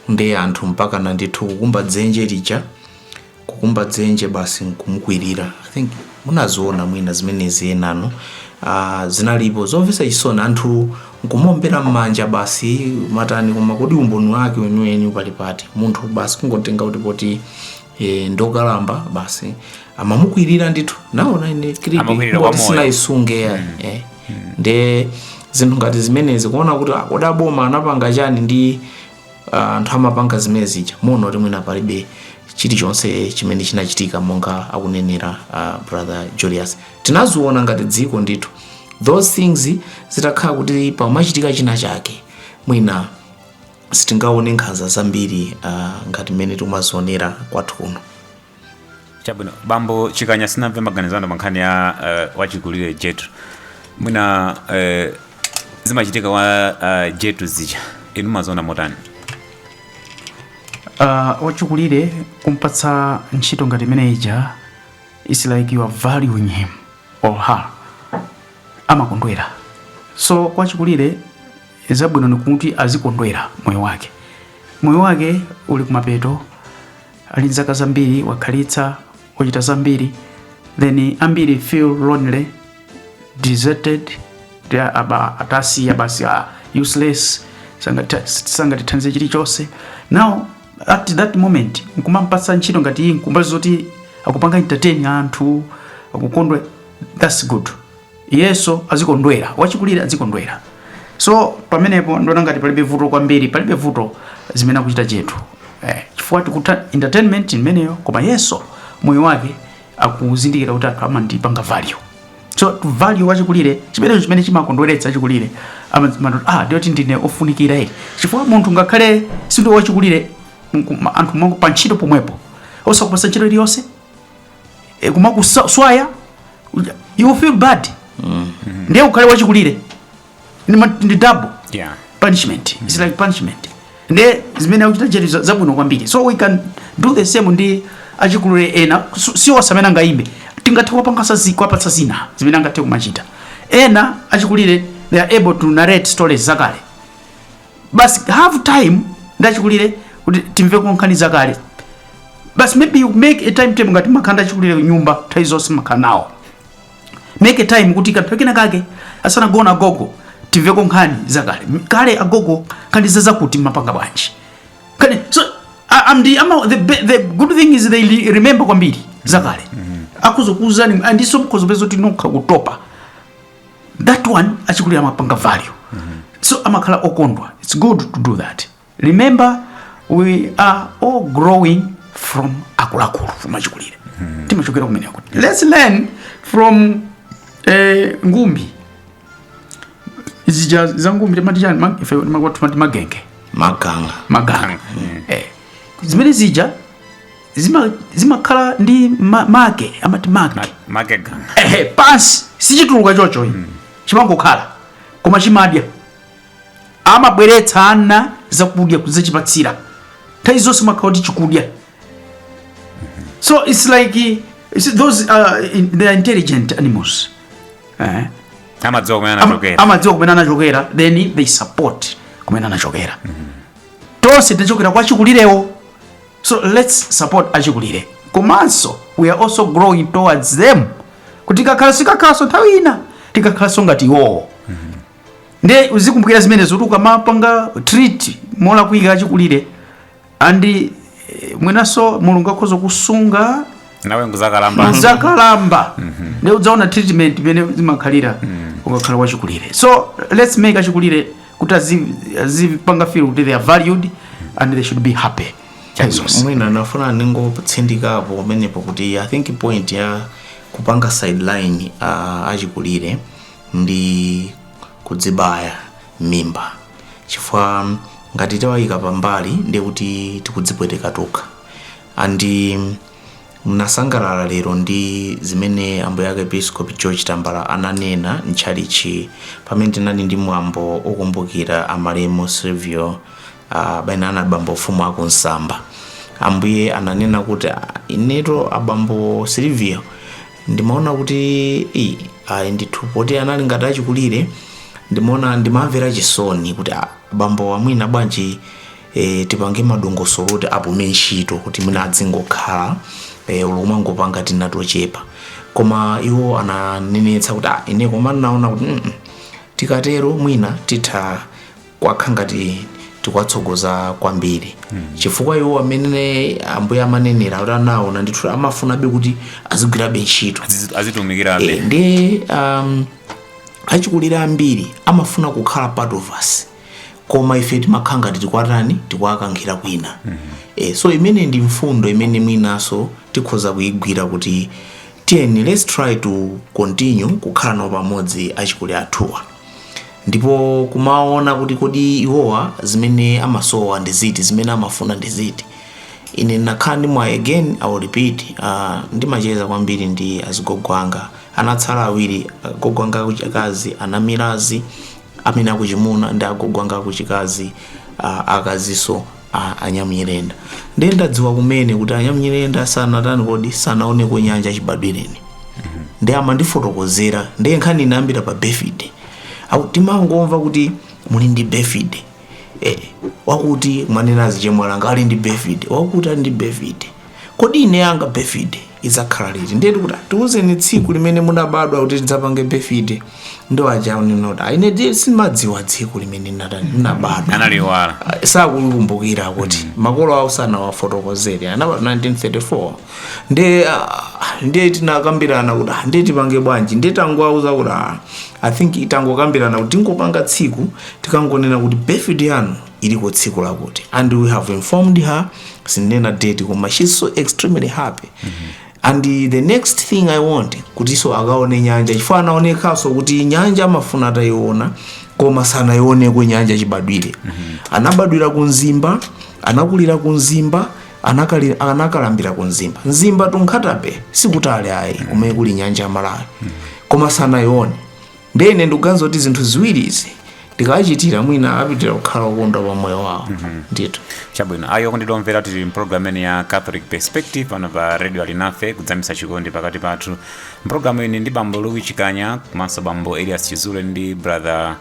ndi anthu mpakana ndithu kukumba dzenje lija kukumba dzenje basi nkumukwirira i think munaziona mwina zimenezi enano uh, zinalipo zomvetsa chisoni anthu Nkumaombera mmanja basi matani koma kodi umboni wake weniweni pali pati munthu basi kungotenga kuti poti e, ndokalamba basi amamukwirira ndithu naona ine clip Amakwirira kwa kuti moyo. sinayisunge ya eh. nde zinthu ngati zimenezi kuona kuti kodi aboma anapanga chani ndi ah, anthu amapanga zimene zija muona kuti mwina palibe chilichonse chimene chinachitika monga akunenera ah, brother julius tinaziona ngati dziko ndithu those things zitakhala kuti pamachitika china chake mwina sitingaone nkhanza zambiri uh, ngati mmene timazionera kwathu kuno chabwino bambo chikanya tisanamve maganizo anu pa nkhani ya uh, wachikulire jetu mwina uh, zimachitika wa uh, jetu zija inu maziona motani uh, wachikulire kumpatsa ntchito ngati imene ija it's like you are valuing him or her amakondwera so kwa achikulire zabwino ndikuti azikondwera moyo wake moyo wake uli kumapeto ali ndi zaka zambiri wakhalitsa wachita zambiri then ambiri feel lonely deserted they are aba atasiya basi ah, useless sangatithandize chilichonse now at that moment nkumampatsa ntchito ngati iyi kumbali zoti akupanga entertain anthu akukondwa that's good iyenso azikondwera wachikulire azikondwera so pamenepo ndiona ngati palibe vuto kwambiri palibe vuto zimene akuchita jetu eh, chifukwa tikuti entertainment imeneyo koma iyenso moyo wake akuzindikira kuti anthu amandipanga value so value wachikulire chimenecho chimene chimakondweretsa achikulire amazimatu ah ndi choti ndine ofunikira eti chifukwa munthu ngakhale sindiwe wachikulire mku- anthu mwangu pa ntchito pomwepo osakupatsa ntchito iliyonse e, kumakuswaya you feel bad ndiye ukhale wachikulire ndi ma- ndi double Yeah. punishment it's like punishment nde zimene akuchita jetu za- zabwino kwambiri so we can do the same ndi achikulire ena su- si onse amene angaimbe tingathe kuwapangasa zi- kuwapatsa zina zimene angathe kumachita ena achikulire they are able to narrate stories zakale basi have time ndi achikulire kuti timveko nkhani zakale basi maybe you make a timetable ngati muli ndi achikulire nyumba nthawi zonse mmakhala nawo make a time kuti kanthu kena kake asanagona agogo timveko nkhani zakale kale agogo nkhani zakutizakuti mmapanga bwanji kani so a- am the, ama, the, be- the good thing is they li- remember kwambiri zakale akudzakuuzani ndinso mukhoza kupeza kuti nokha kutopa that one achikulire amapanga value so amakhala okondwa it's good to do that remember we are all growing from akuluakulu from achikulire timachokera kumeneko eti let's learn from eh, ngumbi zija za ngumbi timati chiyani ma- ife timakuwa timati magenge maganga maganga eh, zimene zija zima- zimakhala ndi ma- make amati make make ganga ehe pansi sichituluka chocho chimangokhala koma chimadya amabweretsa ana zakudya kudzachipatsira nthawi zonse amakhala kuti chikudya so it's like eh, it's those uh, in, they are intelligent animals eh? amadziwa kumene Ama- anachokera amadziwa kumene anachokera then they support kumene anachokera tonse tinachokera kwa achikulirewo so let's support achikulire komanso we are also growing towards them kuti tikakhala tikakhalanso nthawi ina tikakhalanso ngati iwowo ndiye uzikumbukira zimenezo kuti ukamapanga treat molakwika achikulire andi eh, mwinanso mulungu akhoza kusunga nawe nkuzakalamba uzakalamba nde udzaona treatment imene zimakhalira ukakhala wachikulire so let's make achikulire kuti azi- azipanga feel kuti they are valued and they should be happy Chazos. mwina ndafuna ndingotsindikapo pamenepo kuti i think point ya kupanga sideline uh, achikulire ndi kudzibaya m'mimba chifukwa ngati tawayika pambali ndiye kuti tikudzipweteka tokha andi ndinasangalala lero ndi zimene ambuye arkiepiskopi george tambala ananena mtchalichi pamene tinali ndi mwambo okumbukira amalemu silvio uh, paja anali abambo mfumu aku nsamba ambuye ananena kuti "Ah, ineto abambo silvio ndimaona kuti "Ii, ayi ndithu poti anali ngati achikulire ndimaona ndimamvera chisoni kuti "Ah, abambowa mwina bwanji e, tipange madongosolo kuti apume ntchito kuti mwina adzingokhala e, olo kumangopanga tina tochepa koma iwo ananenetsa kuti "Ah, ine koma ndinaona kuti "Mm, mm, tikatero mwina titha kukhala ngati tikuwatsogoza kwambiri chifukwa iwo amene ambuye amanenera kuti anaona ndithu amafunabe kuti azigwirabe ntchito Azizi- azitumikirabe Eh, ndi um, achikulire ambiri amafuna kukhala part of us koma ife timakhala ngati tikuwatani tikuwakankhira kwina eh, so imene ndi mfundo imene mwinaso tikhoza kuyigwira kuti tiyeni let's try to continue kukhala nawo pamodzi achikulire athuwa ndipo kumaona kuti kodi iwowa zimene amasowa ndi ziti zimene amafuna ndi ziti ine ndinakhala ndi mwayi again i will repeat uh, ndimacheza kwambiri ndi azigogo anga anatsala awiri agogo anga akuchikazi anamilazi amene akuchimuna ndi agogo anga akuchikazi uh, akazinso a anyamnyirenda ndiye ndadziwa kumene kuti anyamnyirenda sanatani kodi sanaoneko nyanja chibadwireni ndiye amandifotokozera ndiye nkhani inayambira pa birthday Aku- timangomva kuti muli ndi birthday eh, wakuti mwanenazi chemwali anga ali ndi birthday wakuti ali ndi birthday Kodi ine yanga birthday idzakhala liti? Ndiye tikuti "Ah, tiwuzeni tsiku limene munabadwa kuti tidzapange birthday. Ndi aja kunena kuti. "Ah, Ine ndiye sindimadziwa tsiku limene ndinata- ndinabadwa. analiwala Ah, sakulikumbukira kuti makolo awo sanawafotokozere anabadwa 1934 nde ah, nde tinakambirana kuti ah, nde tipange bwanji nde tangowauza kuti ah, i think tangokambirana kuti tingopanga tsiku tikangonena kuti birthday yanu iliko tsiku lakuti and we have informed her sindinena date koma she's so extremely happy and the next thing i want kutiso akaone nyanja chifukwa anaonekanso kuti nyanja amafuna atayiona koma sanayioneko nyanja chibadwire anabadwira ku mzimba anakulira ku mzimba anakali- anakalambira ku mzimba mzimba to nkhata bay sikutali ayi kumene kuli nyanja ya malawi koma sanayione ndiye ine ndikuganiza kuti zinthu ziwiri izi tikawachitira mwina apitiriza kukhala okondwa pa moyo wawo ndithu chabwino ayo okondedwa omvera tili mpulogalamu imeneyi ya catholic perspective pano pa radio alinafe kudzamisa chikondi pakati pathu mpulogalamuyi ndili ndi bambo louis chikanya komanso bambo elias chizule ndi brother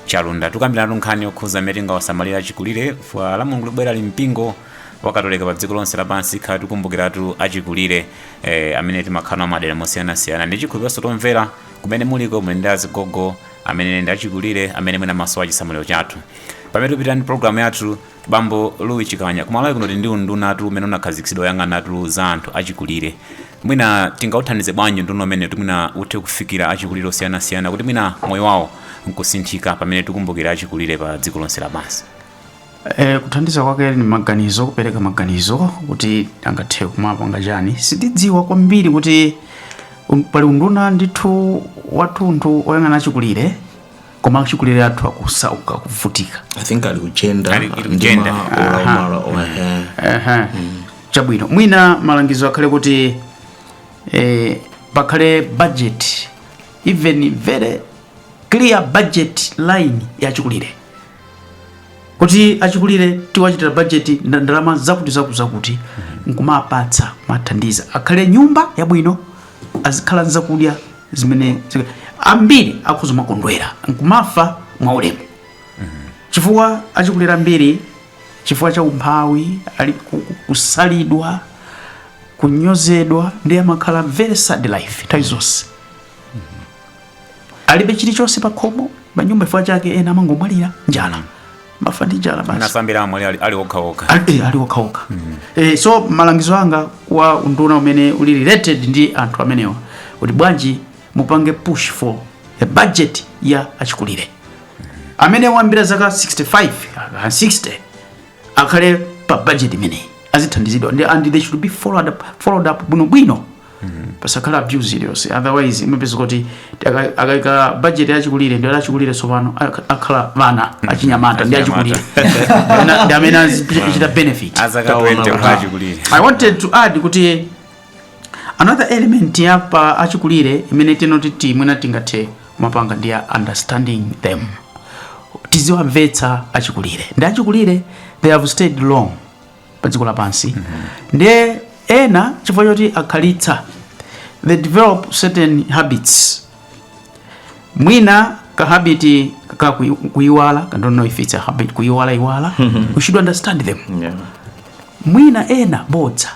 chalunda tikukambirana nkhani yokhuza mmene tingawasamalira achikulire chifukwa lamulungu likubwerali mpingo wakatolika pa dziko lonse lapansi tikhala tikukumbukiratu achikulire eh, amene timakhala nawo madera osiyanasiyana ndi chikhulupiriro kuti omvera Kumene muliko muli ndi azigogo amene ndi achikulire amene mwina amasowa chisamaliro chathu. Pamene tikupitirira ndi programu yathu, bambo Louis Chikanya, kumalawi kuno tili ndi undunatu umene unakhazikitsidwa woyang'anatu za anthu achikulire. Mwina tingauthandize bwanji unduna umenewu kuti mwina uthe kufikira achikulire osiyanasiyana kuti mwina moyo wawo nkusinthika pamene tikumbukira achikulire pa dziko lonse lapansi. E, kuthandiza kwake ni maganizo, kupereka maganizo kuti angathe kumapanga chani. Sindidziwa kwambiri kuti um, pali unduna ndithu wathunthu oyang'ana achikulire koma achikulire athu akusauka kuvutika i think uli ku gender Ali- uli ndi gender. ma Aha. olamala ohe Aha. chabwino mwina malangizo akhale kuti eh, pakhale budget even very clear budget line ya achikulire kuti achikulire tiwachitira bajeti ndalama zakuti zakuti zakuti mm-hmm. nkumawapatsa kumawathandiza akhale nyumba yabwino azikhala nzakudya zimene ambiri akhoza kumakondwera nkumafa mwaulemu mm-hmm. chifukwa achikulire ambiri chifukwa cha umphawi ali kusalidwa kunyozedwa ndiye amakhala very sad life nthawi zonse alibe chilichonse pa khomo pa nyumba chifukwa chake ena amangomwalira njala mafa ndi njala basi anasambira amwali ali- ali okhaokha Ali- eh, ali okhaokha Eh, so malangizo anga kwa unduna umene uli related ndi anthu amenewa kuti bwanji mupange push for a budget ya achikulire amene wayambira zaka 65 ah, 60 akhale pa budget imeneyi azithandizidwa ndi and they should be followed up, followed up bwinobwino pasakhale abuse iliyonse otherwise umapeza kuti aka- akaika budget yachikulire ndi achikulire tsopano ak- akhala ana achinyamata ndi achikulire Ana- ndi amene azichita benefit azaka Kaona 20 kuti achikulire i wanted to add kuti another element ya pa achikulire imene tingoti mwina tingathe kumapanga ndi ya understanding them tiziwamvetsa achikulire ndi achikulire they have stayed long pa dziko lapansi ndiye ena chifukwa choti akhalitsa they develop certain habits mwina kahabiti kakuyiwala i don't know if it's a habit kuyiwalayiwala we should understand them Yeah. mwina ena bodza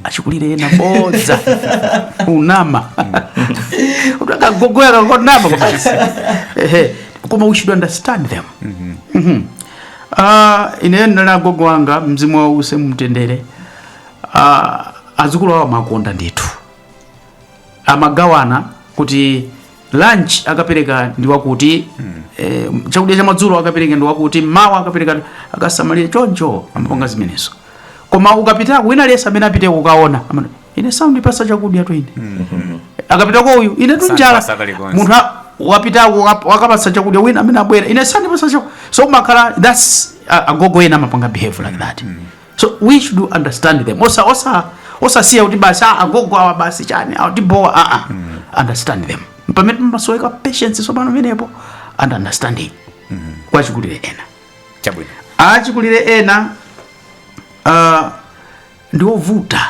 achikulire ena bodza unama utakagogoya kakonama basi Ehe. koma we should understand them Mhm. Ah, ineyo ndinali agogo wanga mzimu wawo uuse mumtendere Ah, azukulu awo amakonda ndithu amagawana kuti lunch akapereka ndi wakuti eh, chakudya cha madzulo akapereka ndi wakuti mawa akapereka akasamalire choncho amapanga zimenezo koma ukapitako wina aliyense amene apite kukaona amati, ine sandipasa chakudyatu ine akapitako uyu ine tu njala Sandipasa kalikonse. munthu a- wapitako waka- wakapasa chakudya wina amene abwera ine sandipasa chakudya so umakhala that's a- agogo ena amapanga behave like that so we should understand them osa osa osasiya kuti basi ah, agogo awa basi chani awa atibowa aa ah, ah. understand them pamene imasoweka patience tsopano pamenepo and understanding mm-hmm. kwa achikulire ena chabwino achikulire ena uh, ndiovuta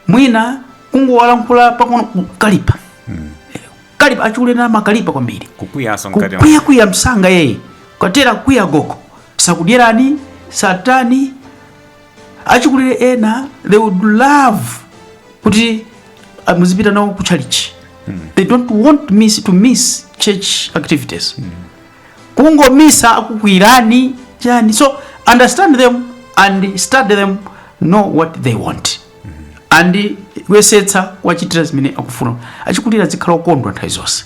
mwina kungowalankhula pang'ono kukalipa kalipa achikulire ena amakalipa kwambiri kukwiyaso mkati mwa- kukwiya kwiya msanga iyeyo watere wakwiya gogo sakudyerani satani achikulire ena they would love kuti ah, muzipita nawo ku chalichi they don't want miss, to miss church activities kungomisa akukwirani chani so understand them and study them know what they want and kuyesetsa kuwachitira zimene akufuna achikulira azikhala okondwa nthawi zonse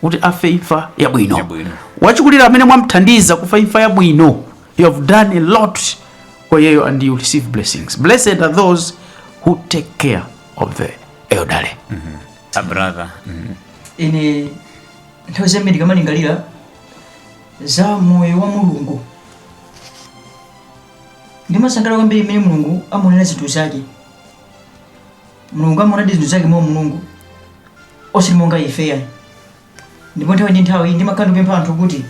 kuti afe imfa yabwino Yabwino. wachikulira amene mwamthandiza kufa imfa yabwino you have done a lot for iyeyo and you receive blessings blessed are those who take care of the elderly a brother ine nthawi zambiri tikamalingalira za moyo wa mulungu ndimasangalala kwambiri mmene mulungu amaonera zinthu zake mulungu amaonadi zinthu zake mwa mulungu osati monga ife ayi ndipo nthawi ndi nthawi ndimakhala ndikupempha anthu kuti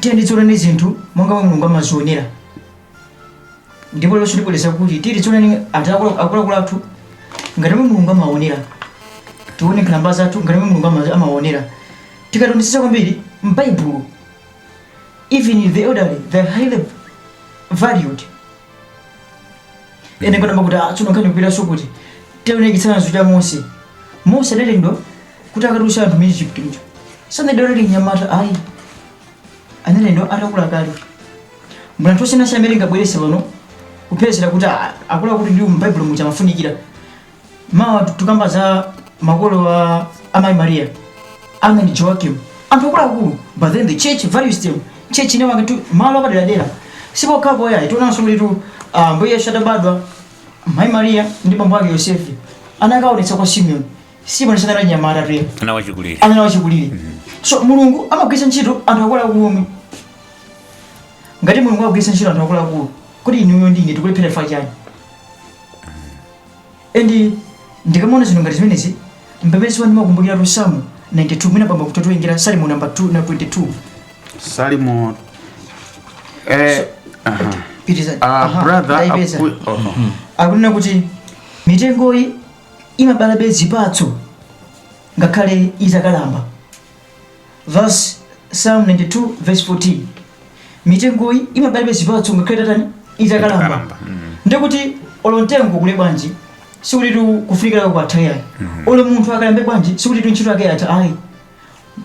tiyeni tizione zinthu monga momwe mulungu amazionera ndipo lero ndibwereza kuti tiyeni tione anthu akulu- akuluakulu athu ngati momwe mulungu amaonera tione nkhalamba zathu ngati momwe mulungu ama- amaonera tikaonetsetsa kwambiri m'baibulo even the elderly they're highly valued ene ngatamba kuti atsuno nkhani kupitanso kuti tione chitsanzo cha mose mose analengedwa kuti akatulutse anthu mu egypt muja sanali mnyamata ayi analengedwa atakula kale tiona anthu osiyana siyana amene tingabwerese pano kupezera kuti a- akula kuti ndi mbaibulo muja amafunikira mawa tukamba za makolo wa amayi maria ana ndi joakim anthu akuluakulu but then the church values them church inawapatsa malo apaderadera sipokhapo ayi tionanso kuti tu ah, mbuye yesu atabadwa mayi maria ndi bambo ake yosefe anakaonetsa kwa simeoni simoni sanali mnyamatatu ayi anali wachikulire anali wachikulire so mulungu amagwiritsa ntchito anthu akuluakulu omwe ngati mulungu amagwiritsa ntchito anthu akuluakulu kuti inuyo ndi ine tikulephera chifukwa chani and ndikamaona zinthu ngati zimenezi mpamene ndimakumbukiratu psalm 92 mwina pamba kutotoengera salimo namba 2 na 22 salimo eh, aha. pitizani Ah, brother akui- oh, oh. akunena kuti mitengoyi imabalabe zipatso ngakhale itakalamba. Thus Psalm 92 verse 14 mitengoyi imabalabe zipatso ngakhale itatani itakalamba Itakalamba, mm. ndikuti olo mtengo ukule bwanji sikuti tu kufunikira kwatha ayi olo munthu akalambe bwanji sikuti tu ntchito yake yatha ayi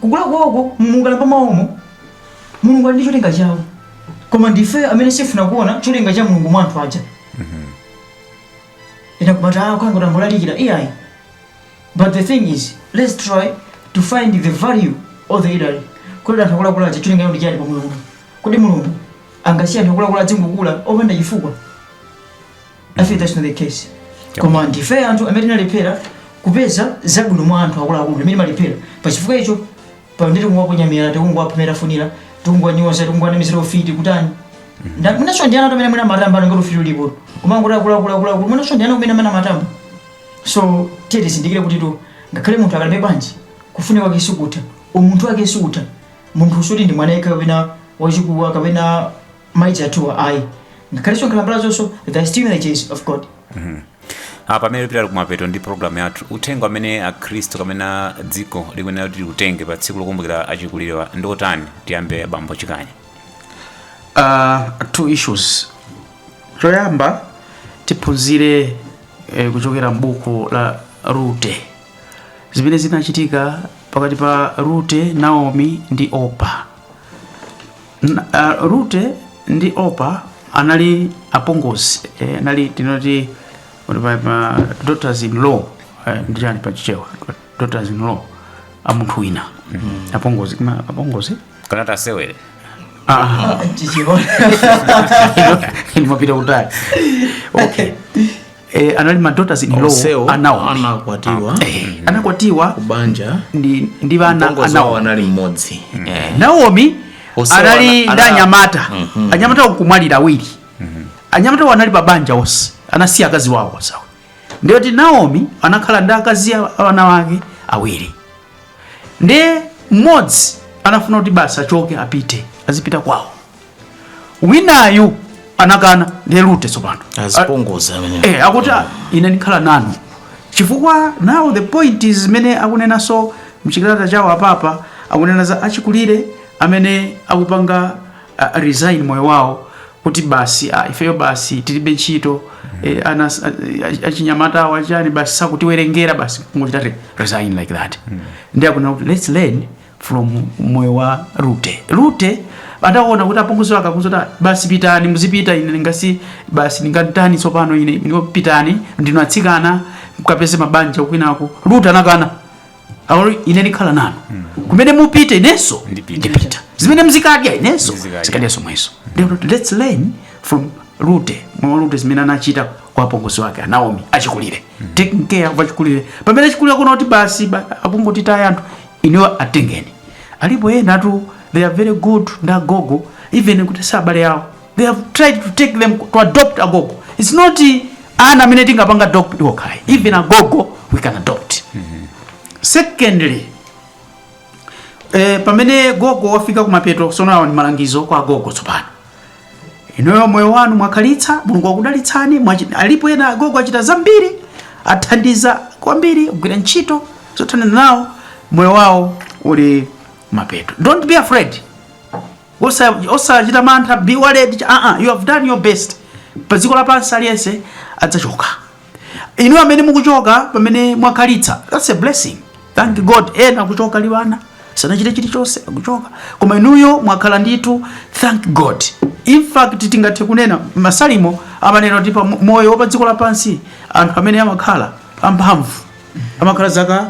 kukula kwawoko mukukalamba mwawomo mulungu ali ndi cholinga chawo koma ndife amene sitifuna kuona cholinga cha mulungu mwa anthu aja ena kumati ah kwangu ndangolalikira iyayi but the thing is let's try to find the value of the elderly kodi anthu akuluakulu aja cholinga chawo ndi chani pa moyo uno kodi mulungu angasiye anthu akuluakulu azingokula opanda chifukwa i think that's not the case koma ndife anthu amene tinalephera kupeza zabwino mwa anthu akuluakulu amene timalephera pa chifukwa icho pano ndiri kungoponya miyala tikungowapunira-punira tikungonyoza tikungowanamizira ufiti kutani Nda- mwinanso ndi ana omwe mwina amatamba ngati ufiti ulipo koma kuti akuluakuluwa mwinanso ndi ana kumene amene amatamba so tiyeni tizindikire kuti to ngakhale munthu akalambe bwanji kufunika kwake sikutha umunthu wake sikutha munthu sikuti ndi mwana yekha kapena wachikuda kapena mwina achikulirewa ayi ngakhale nkhalambazonso they're still images of God Ah, pamene tikupita kumapeto ndi programu yathu uthenga amene akhristu kapena dziko likuyenera kuti liwutenge pa tsiku lokumbukira achikulirewa ndi otani tiyambe bambo chikanya uh, two issues choyamba tiphunzire eh, kuchokera m'buku la Rute zimene zinachitika pakati pa Rute Naomi ndi Opa N- ah, Rute ndi Opa anali apongozi eh, anali tinene kuti pa- pa daughters in law eh, ndi chani pa chichewa daughters in law a munthu wina apongozi koma apongozi kana tasewere Ah, Chichewa inu mapita kutali okay eh, anali ma daughters in law Onsewo anawo anakwatiwa eh, anakwatiwa kubanja ndi ndi ana mpongozi anawo wawo anali mmodzi Eh. Naomi Onsewo anali ana- ndi ana- anyamata Mhm. anyamata kumwalira awiri anyamata awo anali pabanja onse anasiya akazi wawo awa ndiye kuti Naomi anakhala ndi akazi a- a ana wake awiri ndiye mmodzi anafuna kuti basi achoke apite azipita kwawo winayu anakana ndiye Rute tsopano azipongoza amene eh, akuti "Ah, ine ndikhala nanu chifukwa now the point is zimene akunenanso m'chikalata chawo a Papa akunena za achikulire amene akupanga uh, resign moyo wawo kuti basi ah, ifeyo basi tilibe ntchito eh, ana ah, achinyamata awo achani basi sakutiwerengera basi kungochita re- resign like that ndi akunena kuti let's learn from moyo wa Rute. Rute ataona kuti apongozi wake akumuuza kuti basi pitani muzipita ine nanga si basi ndingatani tsopano ine ndipo pitani ndinu atsikana mukapeze mabanja kwinako. Rute anakana. Akuti ine ndikhala nanu. Hmm. Kumene mupite inenso ndipita. Zimene muzikadya inenso ndizikadyanso zomwezo. Let's learn from Rute. Mwa Rute zimene anachita kwa apongozi wake Naomi achikulire. Hmm. Taking care of achikulire. Pamene achikulire akuona kuti basi akungotitaya anthu inuyo atengeni alipo enatu they are very good ndi agogo even kuti si abale awo they have tried to take them to adopt agogo its not ana amene tingapange adopt okha ayi even agogo we can adopt secondly eh, pamene gogo wafika kumapeto tsono awa ndi malangizo kwa gogo tsopano inuyo moyo wanu mwakhalitsa mulungu akudalitsani mwachi- alipo ena agogo achita zambiri athandiza kwambiri kugwira ntchito zothandiza nawo moyo wawo uli kumapeto don't be afraid Osa- osachita mantha be worried ch- uh-uh, you have done your best pa dziko lapansi aliyense adzachoka inu amene mukuchoka pamene mwakhalitsa that's a blessing thank god ena akuchoka ali ana sanachite chilichonse akuchoka koma inuyo mwakhala ndithu thank god in fact tingathe kunena masalimo amanena kuti moyo wa pa dziko lapansi anthu amene amakhala amphamvu amakhala zaka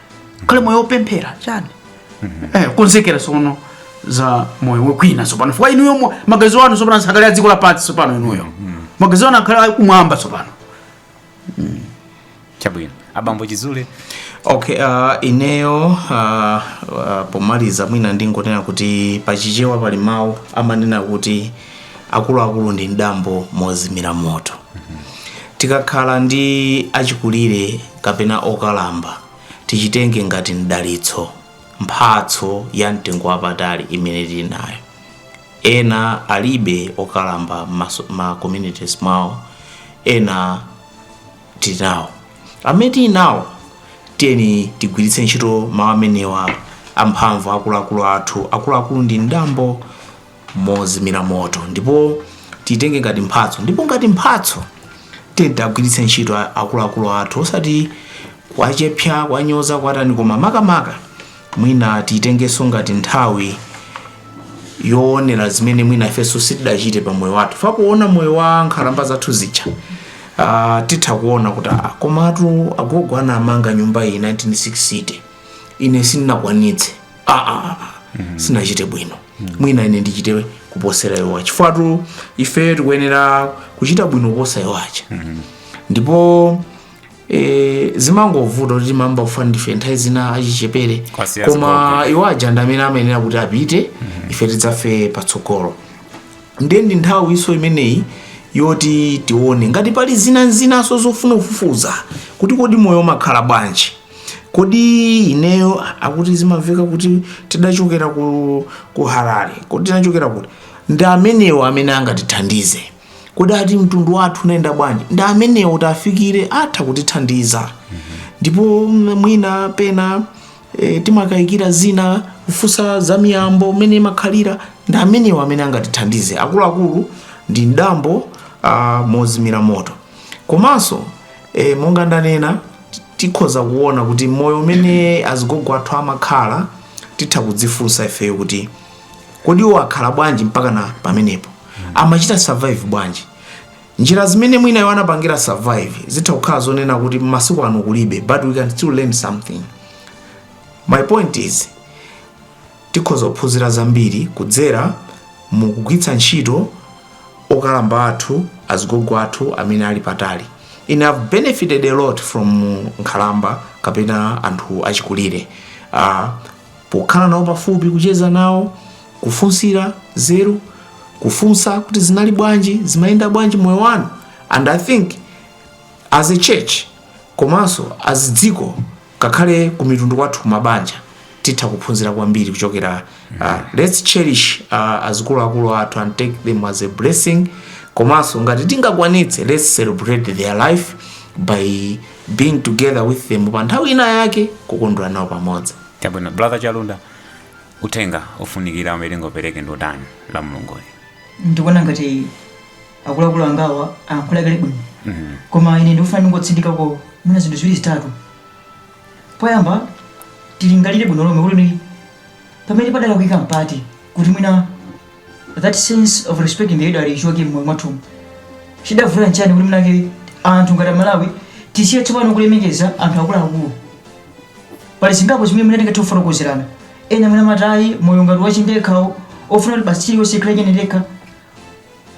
khalani moyo wopemphera chani eh, konzekerani tsono za moyo wa kwina tsopano chifukwa inuyo mo- maganizo anu tsopano asakhale a dziko lapansi tsopano inuyo maganizo anu akhale akumwamba tsopano chabwino abambo chizule okay uh, ineyo uh, uh, pomaliza mwina ndingonena kuti pachichewa pali mawu amanena kuti akuluakulu ndi mdambo mozimira moto tikakhala ndi achikulire kapena okalamba tichitenge ngati mdalitso mphatso ya mtengo wapatali imene tili nayo ena alibe okalamba maso- ma communities mwawo ena tinawo amene tinawo tiyeni tigwiritse ntchito mawu amenewa amphamvu akuluakulu athu akuluakulu ndi mdambo mozimira moto ndipo titenge ngati mphatso ndipo ngati mphatso tiwagwiritse ntchito a- akuluakulu athu osati kuwachepsa kuwanyoza kuwatani koma makamaka mwina titengenso ngati nthawi yoonera zimene mwina ifenso sitidachite pa moyo wathu chifukwa kuona moyo wa nkhalamba zathu zija uh, titha kuona kuti ah, komatu agogo anamanga nyumba iyi 1960 ine sindinakwanitse aa sinachite bwino mwina ine ndichite kuposera iwo chifukwa ife tikuyenera kuchita bwino kuposa iwo aja ndipo e, zimangovuta kuti timayamba kufa ndife nthawi zina achichepere koma iwo aja ndi amene amayenera kuti apite ife tidzafe patsogolo ndiye ndi nthawi inso imeneyi yoti tione ngati pali zina zinanso zofuna kufufuza kuti kodi moyo umakhala bwanji kodi ineyo akuti zimamveka kuti tidachokera ku, ku harare kodi tinachokera kuti ndi amenewo amene angatithandize kodi ati mtundu wathu unayenda bwanji ndi amenewo tiwafikire atha kutithandiza ndipo mm, mwina pena e, timakayikira zina kufunsa za miyambo mmene imakhalira ndi amenewo amene angatithandize akuluakulu ndi mdambo ah, mozimira moto komanso e, monga ndanena tikhoza kuona kuti moyo umene azigogo athu amakhala titha kudzifunsa ifeyo kuti kodi iwo akhala bwanji mpakana pamenepo amachita survive bwanji njira zimene mwina iwo anapangira survive zitha kukhala zonena kuti masiku ano kulibe but we can still learn something my point is Tikhoza kuphunzira zambiri kudzera mu kugwiritsa ntchito okalamba athu, azigogo athu amene ali patali. Ine I've benefited a lot from nkhalamba kapena anthu achikulire. Uh, pokhala nawo pafupi, kucheza nawo, kufunsira nzeru, kufunsa kuti zinali bwanji, zimayenda bwanji moyo wanu. And I think as a church komanso as dziko Ngakhale ku mitundu kwathu kumabanja titha kuphunzira kwambiri kuchokera uh, let's cherish uh, azikuluakulu athu and take them as a blessing komanso ngati tingakwanitse let's celebrate their life by being together with them pa nthawi ina yake kukondwera nawo pamodzi chabwino brother chalunda uthenga ofunikira umene tingopereke ndi utani la mulunguyi ndikuona ngati akuluakulu angawa alankhula kale bwino koma ine ndikufuna ndingotsindikako mwina zinthu ziwiri zitatu poyamba tilingalire bwino lomwe kuti ni- pamene padalakwika mpati kuti mwina that sense of respecting the elderly ichoke mmoyo mwathumu chidavuta nchani kuti mwinake anthu ngati amalawi tisiye tsopano kulemekeza anthu akuluakulu pali zingapo zimene mwina tingathe kufotokozerana ena mwina matayi moyo ngati wachindekhawo ofuna kuti basi chilichonse chikhale chenendekha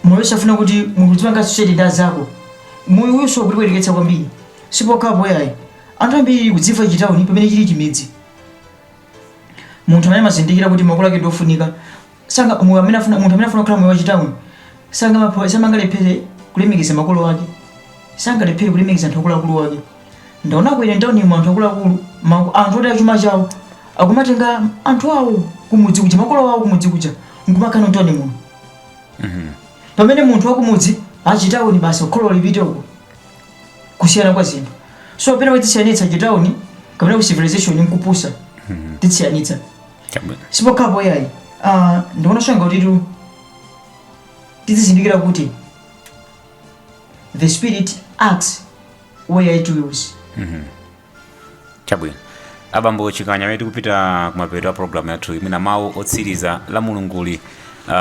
Moyo safuna kuti munthu udzipanga associate ndi azako. Moyo uyunso ukutipweteketsa kwambiri. Sipokhapo yayi. Anthu ambiri tikudziwa chitauni pamene chili chimidzi. Munthu amene amazindikira kuti makolo ake ndiofunika sanga moyo amene afuna munthu amene afuna kukhala moyo wa chitauni sangamapho samangalephere kulemekeza makolo ake. Sangalephere kulemekeza anthu akuluakulu ake. Ndaonako ine mtaunimo anthu akuluakulu ma anthu oti achuma chawo akumatenga anthu awo kumudzi kuja makolo awo kumudzi kuja nkumakhala nawo mtauni muno. Mhm. pamene munthu wakumudzi achitauni basi kholo lipite uko kusiyana kwa zinthu so pena tidzisiyanitsa chitauni kapena ku civilization nkupusa tidzisiyanitsa Chabwino. sipokhapo yayi uh, ndikuona chonga kuti tizizindikira kuti the spirit acts where it wills chabwino abambo chikanya pamene tikupita kumapeto a programu yathuyi mwina mawu otsiriza la mulunguli uh,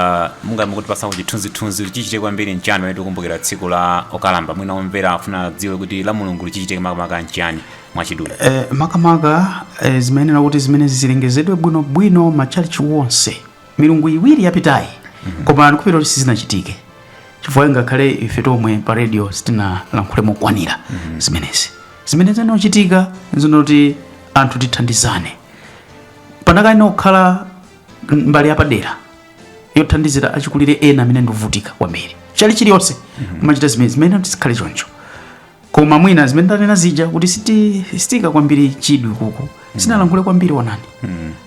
mungayambe kutipatsako chithunzithunzi chichitike kwambiri nchani pamene tikumbukira tsiku la okalamba mwina omvera afuna adziwe kuti la mulunguli chichitike makamaka nchani mwachidule Eh, makamaka eh, zimayenera kuti zimene zilengezedwe bwinobwino matchalichi wonse milungu iwiri yapitayi koma ndikhulupirira kuti sizinachitike chifukwa ngakhale ife tomwe pa radio sitinalankhule mokwanira zimenezi zimene zinachitika zinoti anthu tithandizane panakayenera kukhala mbali yapadera yothandizira achikulire ena amene ndi ovutika kwambiri chalichi iliyonse kumachita zimene zimene tizikhale choncho koma mwina zimene ndanena zija kuti siti- sitiika kwambiri chidwi kuku sitinalankhule kwambiri onani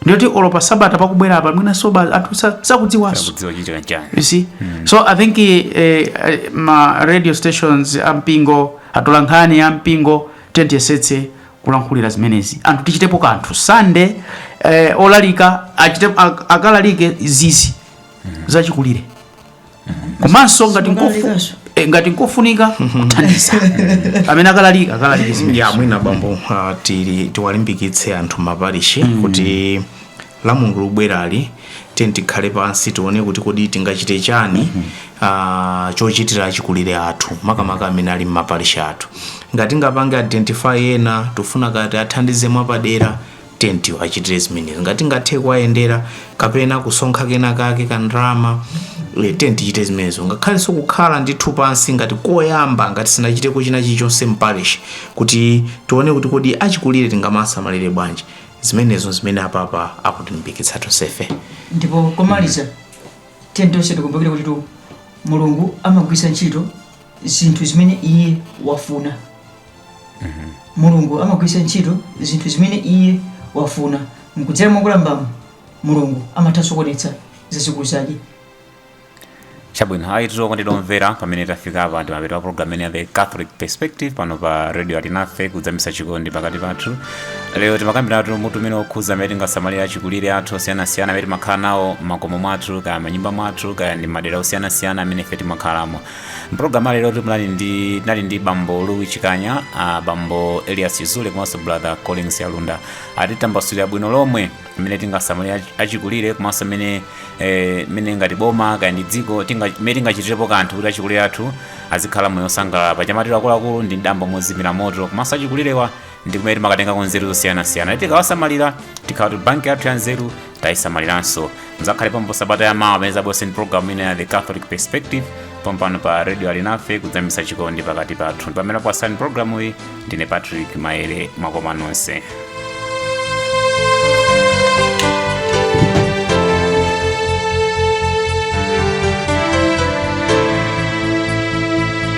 ndiyoti olo pa sabata pakubwera apa mwina soba anthu sa- sakudziwanso sakudziwa chikuchitika chani you see so i think eh, eh, ma radio stations ampingo atolankhani ampingo tiyesetse kulankhulira zimenezi anthu tichitepo kanthu sande eh, olalika achite, ak- akalalike zizi za achikulire komanso ngati nkofu- Zobalikazo. eh, ngati nkofunika kuthandiza amene akalalika akalalika zimenezi ya mwina bambo uh, tili tiwalimbikitse anthu mmaparishi kuti la mulungu lubwerali tiyeni tikhale pansi tione kuti kodi tingachite chani uh, chochitira achikulire athu makamaka amene ali mmaparishi athu ngati tingapange identify ena tifuna kuti tiwathandize mwapadera Tiyeni tiwachitire zimenezi. Ngati tingathe kuwayendera kapena kusonkha kenakake ka ndalama, eh, tiyeni tichite zimenezo. Ngakhalenso kukhala ndithu pansi ngati koyamba, ngati sitinachiteko china chilichonse mparish, kuti tione kuti kodi achikulire tingawasamalire bwanji. Zimenezo zimene a papa akutilimbikitsa tonsefe. ndipo komaliza tiyeni tonse tikumbukire kutitu mulungu amagwiritsa ntchito zinthu zimene iye wafuna mulungu amagwiritsa ntchito zinthu zimene iye wafuna kudzera mwa nkhalambamu mulungu amathanso kuonetsa zazikulu zake chabwino ayitu okondedwa omvera pamene tafika apa ndi mapeto a programu imene ya the catholic perspective pano pa radio alinafe kudzamisa chikondi pakati pathu lero timakambiratu mutu umene okhuza mmene tingasamalire achikulire athu osiyanasiyana amene timakhala nawo mmakomo mwathu kaya mmanyumba mwathu kaya ndi madera osiyanasiyana amene ife timakhalamo mpulogalamu lero tinali ndi tinali ndi bambo louis chikanya ah, bambo elias chizule komanso brother collins yalunda atitambasulira bwino lomwe mmene tingasamalire achikulire komanso mmene eh, mmene ngati boma kaya ndi dziko tinga- mmene tingachitirepo kanthu kuti achikulire athu azikhala moyo osangalala paja amati akuluakulu ndi mdambo mozimira moto komanso achikulirewa ndi kumene timakatengako nzeru zosiyanasiyana tikawasamalira tikhala kuti banki yathu ya nzeru tayisamaliranso mudzakhale pompo sabata ya mawa pamene tidzabwerenso ndi programu ina ya the catholic perspective pompano pa radio alinafe kudzamisa chikondi pakati pathu amene ndakupatsirani programu iyi ndine patrick maere mwakoma nonse